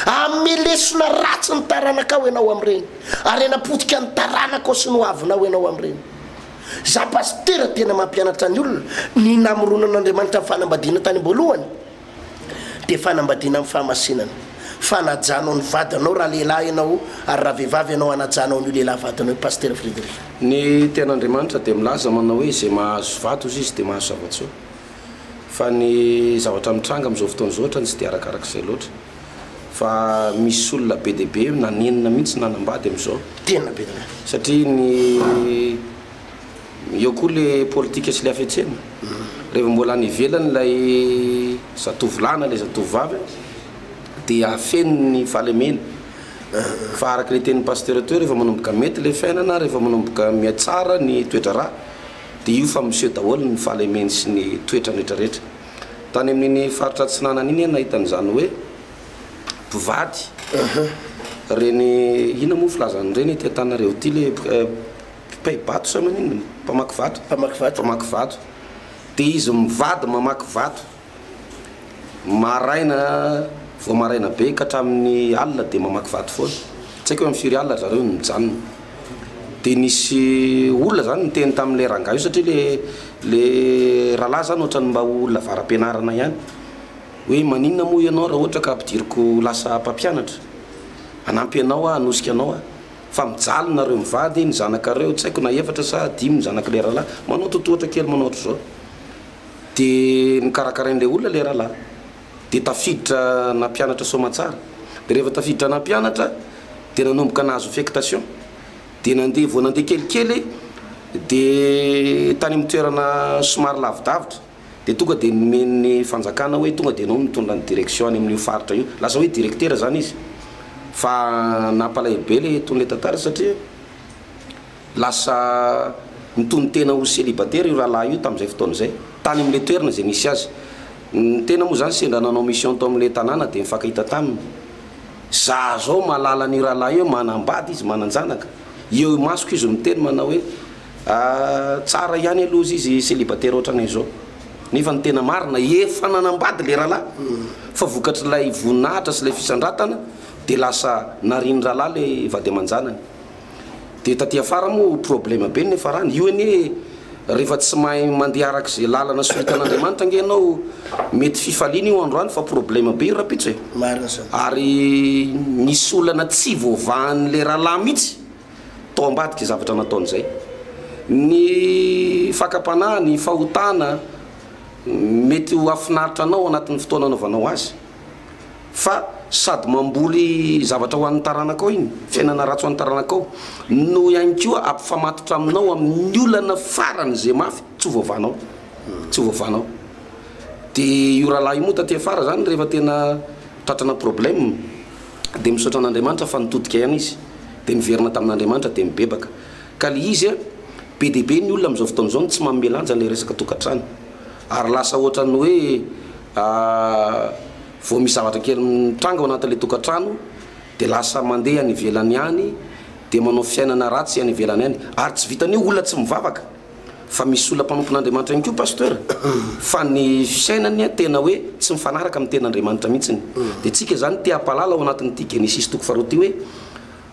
Speaker 2: Amme lesona ratsy ny taranakao ianao amin'ireny. Arena potika ny taranakao sy ny hoavinao ianao amin'ireny. Izaho pasitera tena mampianatra ny olona, ny namoronan'Andriamanitra ny fanambadiana tany am-boalohany dia fanambadiana amin'ny fahamasinana. Fanajanao ny vadinao raha lehilahy ianao ary raha vehivavy ianao anajanao an'io lehilahy vadinao io Pasitera Frederick. Ny
Speaker 1: Tenin'Andriamanitra dia milaza manao hoe izay mahazo vady hozy izy dia mahazo zava-tsoa. Fa ny zavatra mitranga amin'izao fotoana izao otrany tsy dia arakarak'izay loatra. Fa misy olona be dia be nanenina mihitsy nanambady amin'izao. Tena be dia be.
Speaker 2: Satria ny
Speaker 1: eo koa le politika sy le hafetsena. Reheva mbola any ivelany ilay zatovolahy na ilay zatovovavy dia feno ny fahalemena. Fa araka le tenin'i Pasteur teo rehefa manomboka mety le fiainana, rehefa manomboka mihatsara ny toedraharaha. Dia io fa miseho daholo ny fahalemeny sy ny toetrany rehetrarehetra. Tany amin'iny faritra atsinanana iny aho nahita an'izany hoe mpivady reny, inona moa filazan'ireny ety an-tananareo ity le mpipay-bato sa maninona? mpamaky vato? mpamaky vato, dia izy mivady mamaky vato. Maraina, vao maraina be ka hatramin'ny alina dia mamaky vato foana. Tsy haiko hoe amin'ny firy alina ry zareo no nijanona. Dia nisy olona izany niteny tamin'ilay rangahy io satria ilay ilay rahalahy izany ohatran'ny mba olona avara-pianarana ihany hoe maninona moa ianao raha ohatra ka ampidiriko ho lasa mpampianatra? Hanampy anao aho, hanosika anao aho. Fa mijaly nareo mivady, ny zanakareo tsy haiko na efatra sa dimy ny zanak'ilay rahalahy, manao totohatra kely manao ohatr'izao. Dia nokarakarain'ilay olona ilay rahalahy. Dia tafiditra nampianatra soamatsara. Dia rehefa tafiditra nampianatra dia nanomboka nahazo affectation. Dia nandeha, vao nandeha kelikely dia tany amin'ny toerana somary lavidavitra dia tonga dia nomen'ny fanjakana hoe tonga dia ianao no mitondra ny direction any amin'io faritra io. Lasa hoe directeur izany izy. Fa nampalahelo be ilay ton'ilay tantara satria Lasa nitonon-tena ho célibataire io rahalahy io tamin'izay fotoana izay, tany amin'ilay toerana izay nisy azy. Ny tena moa izany sendra nanao mission tao amin'ilay tanàna dia nifankahita taminy. Za izao mahalala an'io rahalahy io hoe manam-bady izy, manan-janaka. Eo imasoko izy no miteny manao hoe, tsara ihany aloha izy izy célibataire ohatranay izao. Nefa ny tena marina, efa nanam-bady ilay rahalahy, fa vokatr'ilay voninahitra sy ilay fisandratana dia lasa narian'ny rahalahy ilay vady aman-janany. Dia taty afara moa problème be ny niafarany. Io anie rehefa tsy mahay mandeha araka izay lalana soritan'Andriamanitra ange ianao mety fifaliana io androany fa problème be io rapitso e. Marina zany. Ary misy olana tsy voavahan'le rahalahy mihitsy tao ambadika izay zavatra nataony izay. Ny fakam-panahy, ny fahotana mety ho hahafinaritra anao anatin'ny fotoana anaovanao azy. fa sady mamboly zavatra ho an'ny taranakao iny, fiainana ratsy ho an'ny taranakao, no ihany koa ampifamatotra aminao amin'ny olana farany izay mafy tsy ho voavanao, tsy ho voavanao. Dia io rahalahy io moa taty afara izany rehefa tena tratrana problème dia misaotra an'Andriamanitra fa nitodika ihany izy, dia niverina tamin'Andriamanitra dia mibebaka. Ka le izy an, be dia be ny olona amin'izao fotoana izao no tsy manome lanja ilay resaka tokantrano, ary lasa ohatran'ny hoe Vao misy zavatra kely mitranga ao anatin'ilay tokantrano dia lasa mandeha any ivelany any, dia manao fiainana ratsy any ivelany any. Ary tsy vitan'io, olona tsy mivavaka fa misy olona mpanompon'Andriamanitra ihany koa Pasteur fa ny fiainany tena hoe tsy mifanaraka amin'ny tenin'Andriamanitra mihitsy. Dia tsika izany te-hampahalala ao anatin'ity Genesisy toko faharoa ity hoe,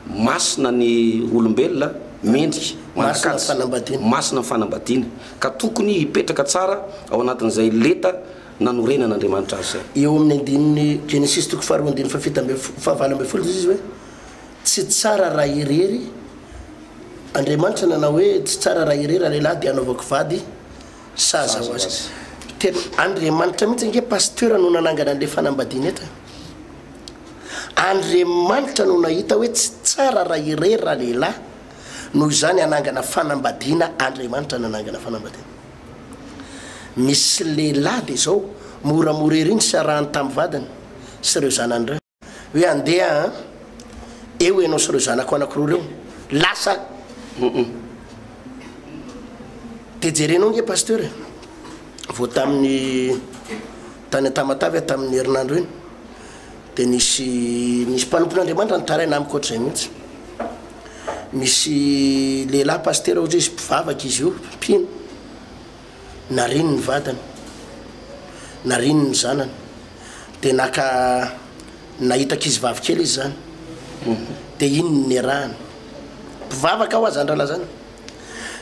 Speaker 1: Masina ny olombelona, mendrika, manan-kaja, masina ny fanambadiana, ka tokony hipetraka tsara ao anatin'izay leta nanorenan'Andriamanitra azy izay. Eo amin'ny andininy
Speaker 2: Genesisy toko faharoa andininy fahafito ambin'ny folo, fahavalo ambin'ny folo dia izy hoe, Tsy tsara raha irery, Andriamanitra nanao hoe, Tsy tsara raha irery ralehilahy dia hanaovako vady sahaza ho azy. Tena Andriamanitra mihitsy ange Pasteur no nanangana an'ilay fanambadiana eto e! Andriamanitra no nahita hoe tsy tsara raha irery ralehilahy, noho izany hanangana fanambadiana Andriamanitra nanangana fanambadiana. Misy lehilahy dia izao, moramora ery ny fiarahany tamin'ny vadiny sy ireo zanany ireo. Hoe andeha an! Eo ianao sy ireo zanako anankiroa ireo, lasa an! Dia jerenao ange Pasteur e! Vao tamin'ny tany Tamatave aho tamin'ny herinandro iny. dia nisy nisy mpanompon'Andriamanitra nitaraina amiko ohatr'izay mihitsy. Misy lehilahy pasitera ohatra izy mpivavaka izy io, mpino. Nariny ny vadiny. Nariny ny zanany. Dia naka nahita ankizy vavy kely izy zany. Dia iny ny niarahana. Mpivavaka aho aza andrala zany.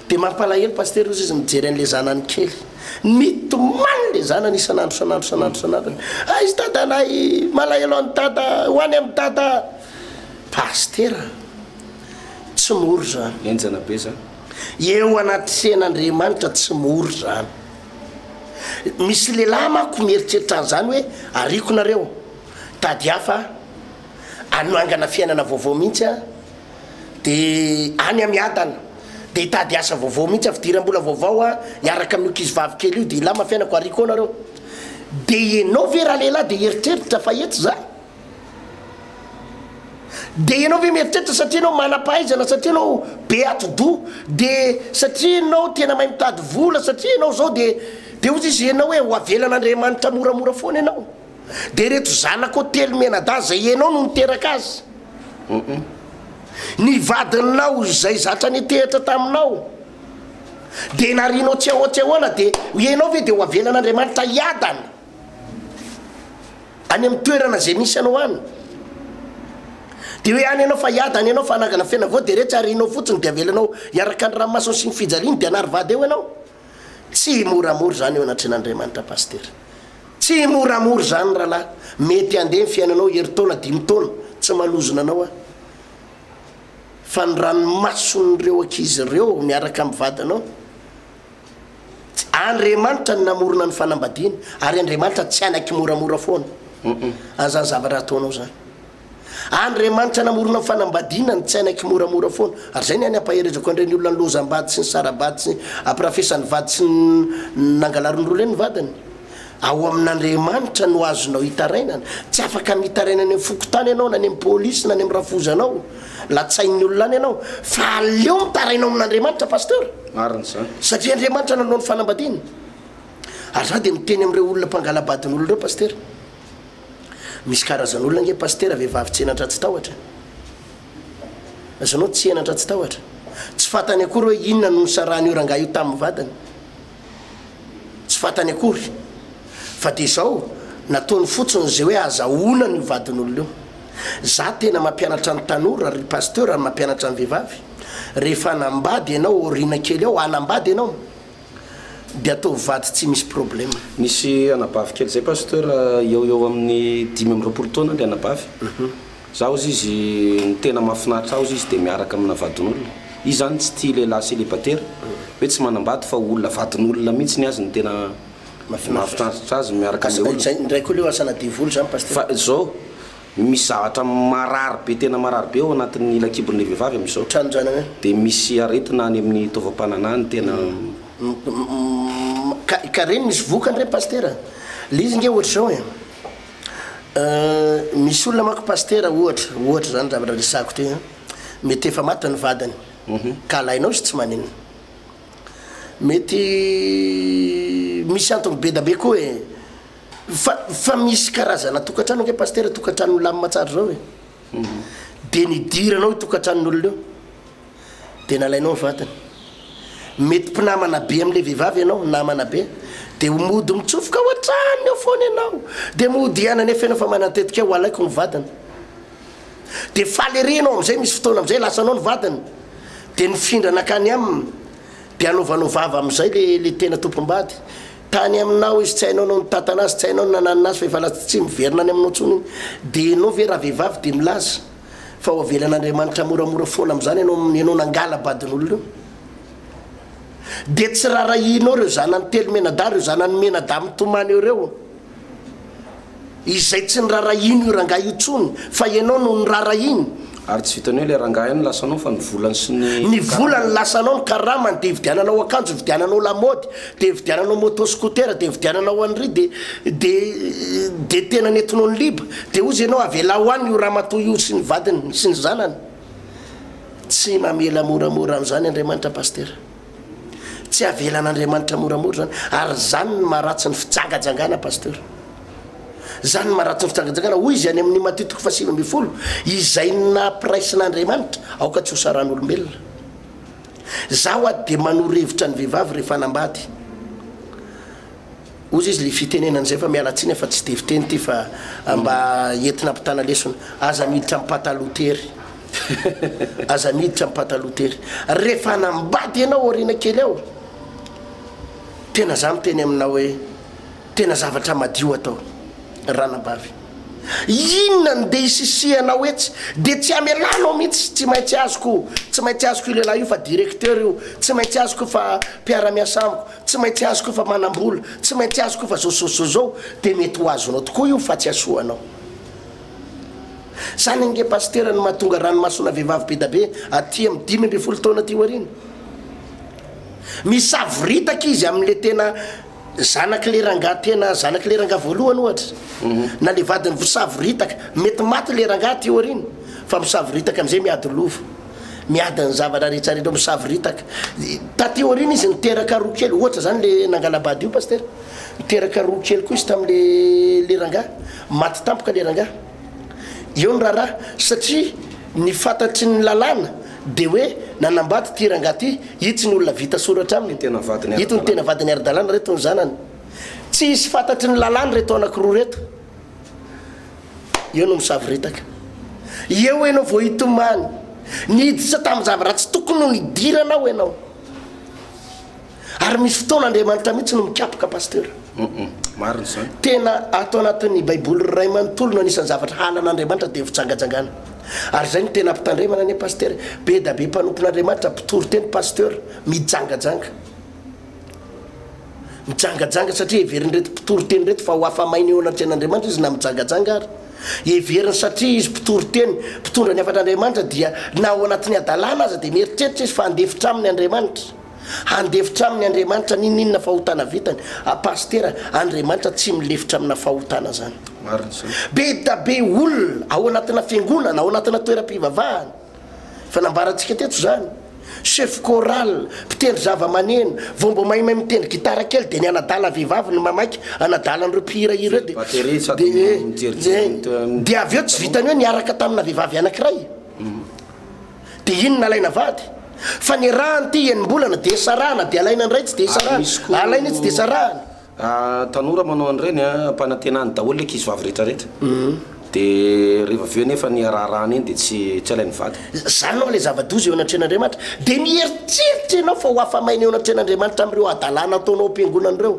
Speaker 2: Dia mampalahelo Pasitera ozy izy mijery an'ilay zanany kely. Mitomany ilay zanany isan'andro isan'andro isan'andro isan'andro. Aiza dadanay? Malahelo an'i dada, ho any amin'i dada. Pasitera an! Tsy mora izany. Enjana be izany.
Speaker 1: Eo anaty
Speaker 2: sehan'Andriamanitra tsy mora izany. Misy lehilahy manko mieritreritra an'izany hoe, ariako nareo, tady hafa aho. anangana fiainana vaovao mihitsy aho dia any amiadana dia hitady asa vaovao mihitsy aho fidirambola vaovao aho hiaraka amin'io kizivavy kely io dia hilama fiainako ary koa nareo dia ianao ve ralehilahy dia hieritreritra fa etsy za dia ianao ve mieritreritra satria anao manam-pahaizana satria anao be atidoha dia satria ianao tena mahay mitady vola satria ianao zao dia dia ozy izy ianao hoe ho avelan'andriamanitra moramora foana ianao Dia ireto zanakao telo mianadahy izay ianao no niteraka azy. Hum. Ny vadinao izay zatra nitehitra taminao dia narianao tsy ahoa tsy ahoana dia ianao ve dia ho avelan'Andriamanitra hiadana any amin'ny toerana izay misy anao any? Dia hoe any ianao fa hiadana ianao fa hanangana fiainana vaovao dia iretsy harianao fotsiny dia avelanao hiaraka ny ranomasony sy ny fijaliany dia hanary vady eo ianao? Tsy moramora izany eo anatrehan'Andriamanitra Pasitera. Tsy moramora izany rahalahy. Mety handeha ny fiainanao herintaona, dimy taona, tsy manozona anao aho. Fa ny ranomason'ireo ankizy ireo miaraka amin'ny vadinao, Andriamanitra no namorona ny fanambadiana, ary Andriamanitra tsy hanaiky moramora foana an'izany zavatra ataonao izany. Andriamanitra namorona ny fanambadiana nitsaina kimoramora foana ary izay ny any ampaherezako an'ireny olona niloazam-bady sy nisara-bady sy ampirafesan'ny vady sy nangalarin'ny roa leny ny vadiny ao amin'Andriamanitra no azonao hitarainana tsy afaka mitaraina any amin'ny fokontany ianao na any amin'ny polisy na any amin'ny rafozanao latsain'ny olona any ianao fa aleo mitaraina ao amin'Andriamanitra pasteur marina izany
Speaker 1: satria Andriamanitra nanao
Speaker 2: ny fanambadiana ary za dia miteny amin'ireo olona mpangalabadin'olona ireo pasteur Misy karazan olona ange pasitera vehivavy tsy henatra tsy tahotra e! Aza anao tsy henatra tsy tahotra. Tsy fantany akory hoe inona no nisarahan io rangahy io tamin ny vadiny. Tsy fantany akory. Fa dia izao, nataony fotsiny izay hoe azahoana an io vadin olona io. Za tena mampianatra ny tanora ry pasteur ary mampianatra ny vehivavy. Rehefa hanambady ianao aoriana kely ao, hanambady ianao. de ataovy vady tsy misy problème. Nisy anabavy
Speaker 1: kely zay pasteur eo eo amin'ny dimy amby roapolo taona le anabavy zaho ozy izy ny tena mahafinaritra ahy ozy izy de miaraka amina vadin'olona izy zany tsy tia lehilahy célibataire hoe tsy manambady fa olona vadin'olona mihitsy ny azy ny tena mahafinaritra azy miaraka amle olona. Zay ndray koa leo asa na
Speaker 2: devoly zany pasteur. Fa zao.
Speaker 1: Misy zavatra marary be, tena marary be ao anatin'ny lakibon'ilay vehivavy amin'izao. Tranondranagna. Dia
Speaker 2: misy
Speaker 1: aretina any amin'ny taovam-pananahany tena.
Speaker 2: Ka, ka re misy vokany re Pasitera? Le izy nge ohatra izao e, misy olona manko Pasitera ohatra, ohatra zany zavatra resahako ty a, mety efa maty ny vadiny ka alainao izy tsy manina. Mety misy antony be da be koa e. Fa fa misy karazana tokantrano ange Pasitera, tokantrano milamina tsara zao e. Dia nidiranao io tokantranon'olona io, dia nalainao ny vadiny. Mety mpinamana be amin'ilay vehivavy ianao, namana be, dia mody mitsofoka ao an-tranony ao foana ianao, dia mody hiaina nefa ianao efa manan-tetika ho alaiko ny vadiny. Dia faly ery ianao amin'izay, misy fotoana amin'izay lasanao ny vadiny, dia nifindra nankany aminy, dia anaovanao vava amin'izay le le tena tompom-bady. Tany aminao izy tsy hainao no nitantana azy tsy hainao no nananina azy fa efa lasa tsy miverina any aminao tsony iny de enao ve ravehivavy de milaza fa ho avelan Andriamanitra moramora foana amzany enao enao nangala badin'olona io de tsy rarahianao reo zanany telo menadahy reo zanany menadahy mitomany eo reo Izay tsy nirarahiany io rangahy io tsony fa ianao no nirarahiany. Ary tsy vitan'ny hoe
Speaker 1: ilay rangahy ihany no lasanao fa ny volany sy ny karama. Ny volany
Speaker 2: lasanao, ny karamany dia ividiananao akanjo, ividiananao lamaody, dia ividiananao moto scooter, dia ividiananao an'ry, dia, dia, dia tena nentinao niliba. Dia hozy ianao avelao ho any io ramatoa io sy ny vadiny sy ny zanany. Tsy mamela moramora an'izany Andriamanitra Pasitera. Tsy avelan'Andriamanitra moramora zany ary zany ny maharatsy ny fijangajangana Pasteur. Zany ny maharatsy ny fijangajangana hoy izy any amin'ny Matthieu toko fahasivy ambin'ny folo izay ny nampiraisin'Andriamanitra aoka tsy ho saran'olombelona. Zaho ady dia manoro hevitra ny vehivavy rehefa hanambady. Ozy izy le fitenenana zay fa miala tsiny fa tsy de fiteny ty fa mba entina ampitana lesona. Aza miditra am pataloha tery. Aza miditra am pataloha tery. Refa hanambady enao aoriana kely ao tena za miteny aminao hoe tena zavatra madio atao ranabavy. Inona no de isisihanao etsy de tsy amelanao mintsy tsy maintsy azoko tsy maintsy azoko io lehilahy io fa directeur io tsy maintsy azoko fa mpiara miasa amiko. Tsy maintsy azoko fa manam-bola, tsy maintsy azoko fa zozozozou, dia mety ho azonao tokoa io fa tsy hasoa anao. Zany ange Pasitera no mahatonga ranomasona vehivavy bedabe aty amin'ny dimy ambin'ny folo taona aty aoriana. Misavoritaka izy amin'le tena zanak'le rangahy tena zanak'le rangahy voalohany ohatra, na le vadiny vosavoritaka, mety maty le rangahy aty aoriana fa misavoritaka amizay miady lova. miady ny zavatra rehetra rehetra misavoritaka taty aoriana izy niteraka roa kely ohatra zany le nangalabady io pasitera niteraka roa kely koa izy tamle le rangaha maty tampoka le rangaha eo ny raharaha satria ny fantatry ny lalàna de hoe nanambady ty rangaha ty itsy ny olona vita soratra aminy tena vadiny ito ny tena vadiny ara-dalàna reto ny zanany tsy hisy fantatry ny lalàna reto anakiroa reto Eo no misavoritaka. Eo ianao vao hitomany. Niditra tamin'ny zavatra tsy tokony ho nidiranao ianao. Ary misy fotoana Andriamanitra mihitsy no mikapoka pasteur. Marina
Speaker 1: izany. Tena ato
Speaker 2: anatin'ny Baiboly iray manontolo no anisan'ny zavatra halan'Andriamanitra dia ny fijangajangana. Ary izay no tena ampitandremana anie pasteur. Be dia be mpanompon'Andriamanitra mpitory teny pasteur mijangajanga. Mijangajanga satria heverin'ireto mpitoriteny ireto fa ho afa-maina eo anatrehan'Andriamanitra izy na mijangajanga ary. Heveriny satria izy mpitoriteny, mpitondra ny hafatr'Andriamanitra dia na ao anatin'ny hadalana aza dia mieritreritra izy fa handefitra aminy Andriamanitra. Handefitra aminy Andriamanitra n'inon'inona fahotana vitany. A Pasitera, Andriamanitra tsy milefitra amina fahotana zany. Be da be olona ao anatina fiangonana, ao anatina toeram-pivavahana. Efa nambarantsika teto izany. Chef choral, mpitendry zavamaneno, vao mba maimay mitendry gitara kely dia ny anadala vehivavy no mamaika anadala an'ireo mpihira hira ireo dia dia eh, dia avy eo tsy vitan'ny hoe niaraka tamina vehivavy anankiray dia iny nalaina vady. Fa ny rà an'ity enim-bolana dia sarahana dia alaina indray tsy dia sarahana, alaina io tsy dia sarahana. Tanora
Speaker 1: manao an'ireny ampanantenany daholo ny ankizivavy rehetra rehetra, dia rehefa avy eo anefa ny haraharahana iny dia tsy tsy halain'ny vady. Izany no ilay
Speaker 2: zava-doza eo anatrehan'Andriamanitra. Dia mieritreritra ianao fa ho afa-maina eo anatrehan'Andriamanitra amin'ireo hadalana ataonao am-piangonana ireo.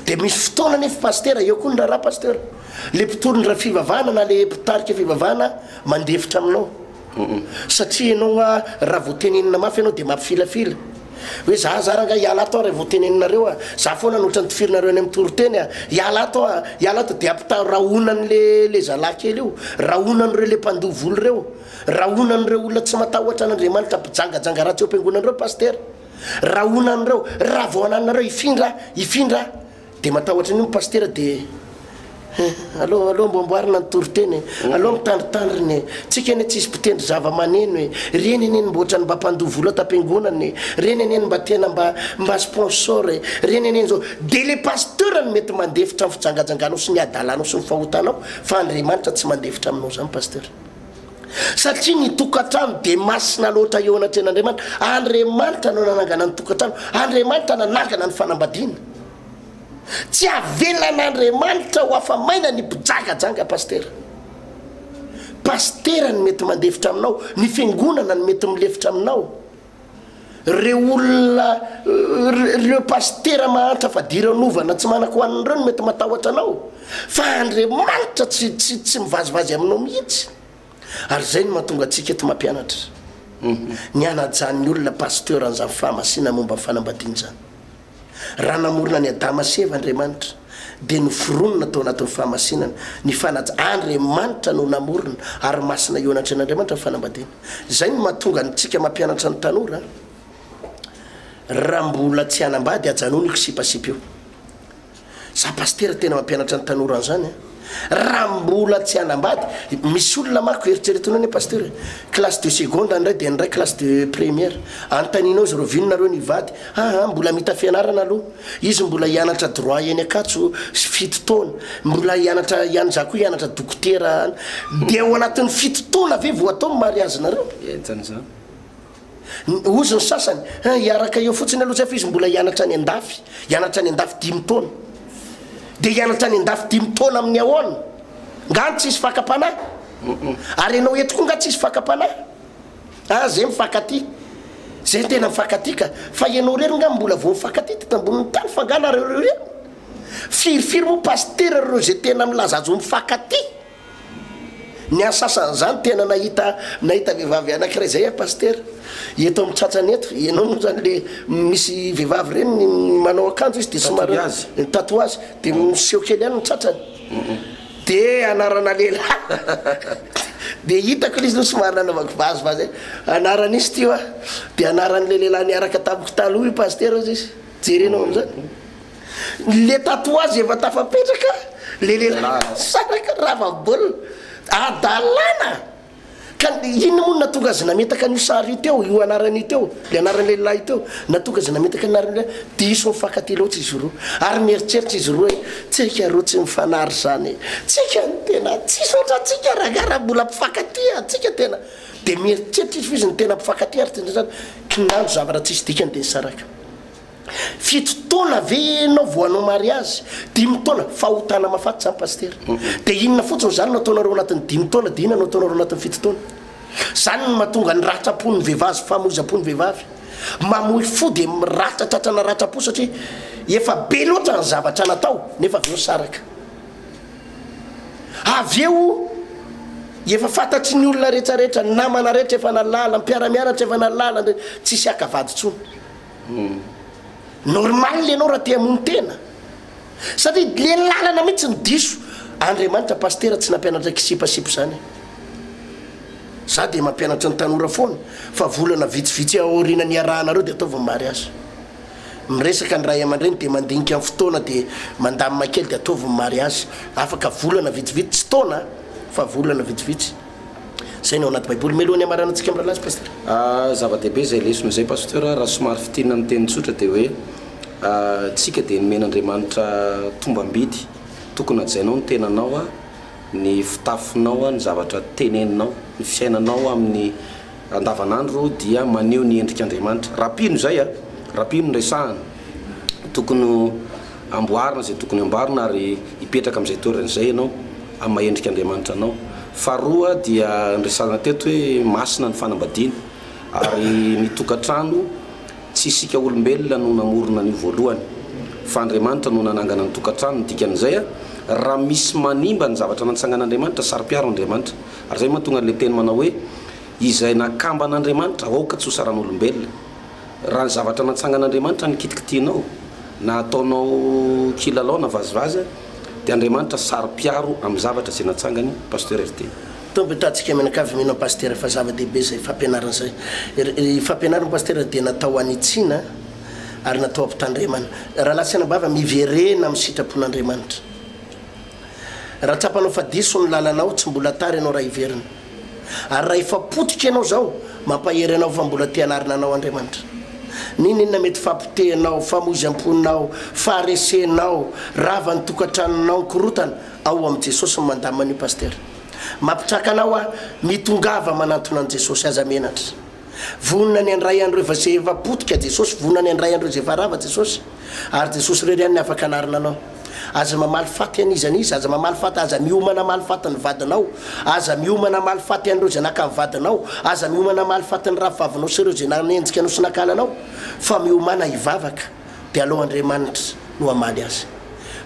Speaker 2: Dia misy fotoana anefa Pasitera, eo koa ny raharaha Pasitera, ilay mpitory ny fivavahana na ilay mpitarika fivavahana mandefitra aminao. Humm satria enao a raha vao tenenina mafy enao de mampifilafila hoe za zara anga hiala ato a raha vao teneninareo a za foana no otrany tifirinareo any am toriteny a hiala ato a hiala ato de ampitaha rahonany le le zalahy kely io rahonany reo le mpandoa vola reo rahonany reo olona tsy matahotra an'andriamanitra mpijangajanga ratsy eo am-piangonana reo pasitera rahonany reo raha vao anananareo hifindra a hifindra a. Dia matahotra an'io ny pasitera dia Hum, aleo, aleo mba amboarina ny toriteny e! Aleo mitandritandrina e! Tsika anie tsisy mpitendry zava-maneno e! Reny anie no mba ohatrany mba mpandoa vola tampiangonana e! Reny anie no mba tena mba, mba sponsor e! Reny anie izao. Dia ilay pasteur no mety mandefitra ny fijangajanganao sy ny hadalanao sy ny fahotanao fa Andriamanitra tsy mandefitra aminao izany pasteur. Satria ny tokantrano dia masina loatra eo anatrehan'Andriamanitra. Andriamanitra no nanangana ny tokantrano. Andriamanitra nanangana ny fanambadiana. Tsy avelan'Andriamanitra ho afa-maina ny mpijangajanga Pasitera. Pasitera no mety mandefitra aminao, ny fiangonana no mety milefitra aminao. Ireo olona, ireo pasitera mahantra fadiranovana tsy manako ho anona ireo no mety matahotra anao, fa Andriamanitra tsy, tsy, tsy mivazivazy aminao mihitsy. Ary izay no mahatonga antsika eto mampianatra, ny hanajan'ny olona pasteur an'izany fahamasina momba ny fanambadiana izany. Raha namorona an'i Adama sy Eva Andriamanitra, dia noforonina tao anatin'ny fahamasinana, ny fanaj. Andriamanitra no namorona, ary masina eo anatrehan'Andriamanitra ny fanambadiana. Izay no mahatonga antsika mampianatra ny tanora, Raha mbola tsy hanambady, ajanony io kisipasipa io. Za pasitera tena mampianatra ny tanora an'izany a! Raha mbola tsy hanambady, misy olona manko eritreretiny hoe ny pasitera classe de seconde ny iray dia ny iray classe de première, anontanianao izy ireo vino nareo ny hivady? aa mbola mita fianarana aloha izy mbola hianatra droit eny Ankatso fito taona, mbola hianatra ihany za koa hianatra dokotera any, dia ao anatin'ny fito taona ve vao atao ny mariazinareo? Entan'izany. Hozy ny sasany, Hein, hiaraka eo fotsiny aloha zay fa izy mbola hianatra any an-dafy. Hianatra any an-dafy dimy taona. Dia hianatra any an-dafy dimy taona amin'ny ahoana? Nga any tsisy fakam-panahy? Ary ianao eto koa nga tsisy fakam-panahy? Ah, zay mifankatia. Zay tena mifankatia ka. Fa ianao irery nga mbola vao mifankatia teto ambonin'ny tany fa nga nareo ireo ireny? Firifiry moa Pasitera ireo zay tena milaza azy ho mifankatia? Ny ahy sasany zany tena nahita nahita vehivavy anakiray zay aho pasitera eto amin'ny tratrany eto ianao moa zany le misy vehivavy ireny manao akanjo izy de somary tatouage de miseho kely ihany ny tratrany de anarana lehilahy de hitako le izy no somary nanaovako vazivazy e anaran'izy ty hoa de anaran'le lehilahy niaraka tamiko taloha io pasitera hozy izy jerenao am'zany Le tatouage efa tafapetraka le lehilahy nisaraka rava baolina adalana ka inona moa no natonga azy nametaka an'io sary io teo io anarany io teo le anarany lehilahy io teo natonga azy nametaka ny anarany lehilahy diso mifankatia loatra izy roa ary mieritreritra izy roa hoe tsika roa tsy mifanary zany e tsika ny tena tsisy ohatrantsika rangahy raha mbola mpifankatia antsika tena dia mieritreritra izy fa izy ny tena mpifankatia ary tena zany kinanjo zavatra tsisy dikany dia nisaraka Fito taona ve enao vao hanao mariazy? Dimy taona? Fahotana mafaty zany Pasitera. Dia inona fotsiny zany no ataonareo anatin'ny dimy taona dia inona no ataonareo anatin'ny fito taona? Zany no mahatonga ny ratram-pon'ny vehivavy sy famoizam-po ny vehivavy. Mamoy fo dia ratra tratrana ratram-po satria efa be loatra ny zavatra natao nefa avy eo saraka. Avy eo efa fantatry ny olona rehetra rehetra, ny namana rehetra efa nahalala, ny mpiara-mianatra efa nahalala, tsisy haka vady intsony. Normal ianao raha te hamono tena satria le lalana mihitsy ny diso Andriamanitra pasitera tsy nampianatra kisipasipo zany za de mampianatra ny tanora foana fa volana vitsivitsy aorina niarahanareo de ataovy ny mariazy miresaka ny ray aman-dreny de mandinika ny fotoana de mandamina kely de ataovy ny mariazy afaka volana vitsivitsy tsy taona fa volana vitsivitsy Saina ao anaty baiboly meloha ny hamaranan-tsika mirahalahy sy pasitera. Ah zava-dehibe izay lesona
Speaker 1: izay Pasteur a, raha somary fintinina amin'ny teny tsotra dia hoe ah tsika dia nomen' Andriamanitra tombam-bidy, tokony hajainao ny tenanao a, ny fitafinao a, ny zavatra teneninao, ny fiainanao amin'ny andavan'andro dia maneho ny endrik' Andriamanitra, raha mpino izay a, raha mpino no resahana tokony ho. Amboarina izay tokony hamboarina ary hipetraka amin'izay toerana izay ianao amin'ny maha endrika Andriamanitra anao. Faharoa dia niresahana teto hoe masina ny fanambadiana ary ny tokantrano tsy isika olombelona no namorona an'io voalohany fa Andriamanitra no nanangana ny tokantrano, ny dikan'izay a raha misy manimba ny zavatra nantsangan'Andriamanitra saro-piaro Andriamanitra ary izay mahatonga an'ilay teny manao hoe izay nakamban'Andriamanitra aoka tsy ho saran'olombelona. Raha ny zavatra natsangan'Andriamanitra ny kitikitianao, na ataonao kilalao na vazivazy, dia Andriamanitra saro-piaro amin'ny zavatra izay natsangany, Pasteur RT. Tompo tatsika
Speaker 2: aminakavy mino an Pasitera fa zava dehibe zay fampianarana zay. Ry fampianarana Pasitera dia natao hanitsiana ary natao hampitandremana. Rahalahy sy anabavy a miverena amin'ny sitrapon'Andriamanitra. Raha tsapanao fa diso ny lalanao, tsy mbola tara ianao raha hiverina. Ary raha efa potika ianao zao, mampahery anao fa mbola te hanarina anao Andriamanitra. N'inon'inona mety fahapotehinao, famoizam-ponao, faharesenao, rava ny tokantranonao ny korotana, ao amin'i Jesosy no mandamina an'io Pasitera. Mampitraka anao aho, mitongava manantona an'i Jesosy, aza menatra. Vonona ny handray an'ireo efa izay efa potika Jesosy, vonona ny handray an'ireo izay efa rava Jesosy. Ary Jesosy irery ihany ny afaka hanarina anao. Aza mamaly faty an'iza an'iza, aza mamaly faty, aza miomana hamaly faty ny vadinao, aza miomana hamaly faty an'ireo izay naka ny vadinao, aza miomana hamaly faty ny rafivavinao sy ireo izay nanenjika anao sy nakana anao, fa miomana hivavaka, dia alao Andriamanitra no hamaly azy.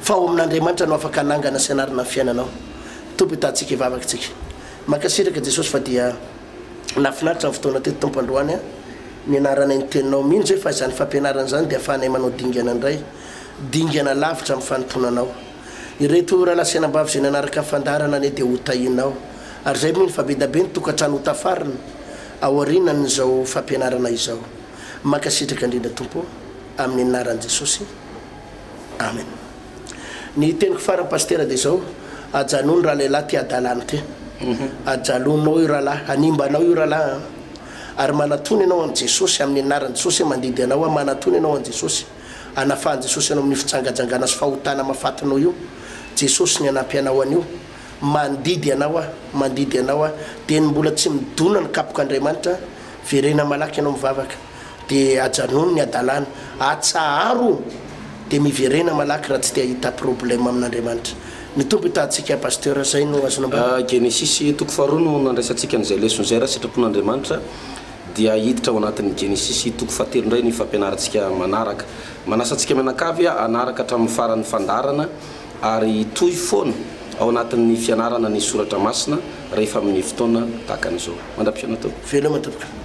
Speaker 2: Fa ao amin'Andriamanitra no afaka hanangana sy hanarina ny fiainanao. Tompo hitantsika hivavaka tsika. Mankasitraka Jesosy fa dia nafinaritra ny fotoana teto Tompo androany a, nianaranay ny teninao, mino zay fa izany fampianarana izany dia afahanay manao dingana indray, Dingana lavitra amin'ny fanompoana anao. Ireto ora lasenambavy izay nanaraka fandaharana anie dia ho tahiana ao. Ary izay mino fa be dia be ny tokantrano ho tafarina aorianan'izao fampianarana izao. Mankasitraka indrindra Tompo ô! Amin'ny anaran'i Jesosy. Amen. Ny teniko farany Pasitera dia izao, ajanò ny ralehilahy te adala ny tena. Ajalonao io rahalahy, hanimba anao io rahalahy an. Ary manatona ianao amin'i Jesosy, amin'ny anaran'i Jesosy, mandidy anao aho, manatona ianao an'i Jesosy. Anafahan'i Jesosy anao amin'ny fijangajangana sy fahotana mahafatinao io. Jesosy ny hanampy anao anio. Mandidy anao Aho, mandidy anao Aho. Dia ny mbola tsy midona ny kapok'Andriamanitra, verena malaky ianao mivavaka. Dia ajanony ny hadalana. Atsaharo! Dia miverena malaky raha tsy te hahita problème amin'Andriamanitra. Ny Tompo hitahantsika Pasteur, zay no azonao ambara? Genesisy toko
Speaker 1: faharoa no nandraisantsika an'izay lesona izay raha sitrapon'Andriamanitra. Dia hiditra ao anatin'ny Genesisy toko fahatelo indray ny fampianarantsika manaraka. Manasa antsika mianakavy hanaraka hatramin'ny faran'ny fandaharana ary hitohy foana ao anatin'ny fianarana ny soratra masina rehefa amin'ny fotoana tahaka an'izao. Mandra-pihaona Tompoko. Veloma Tompoko.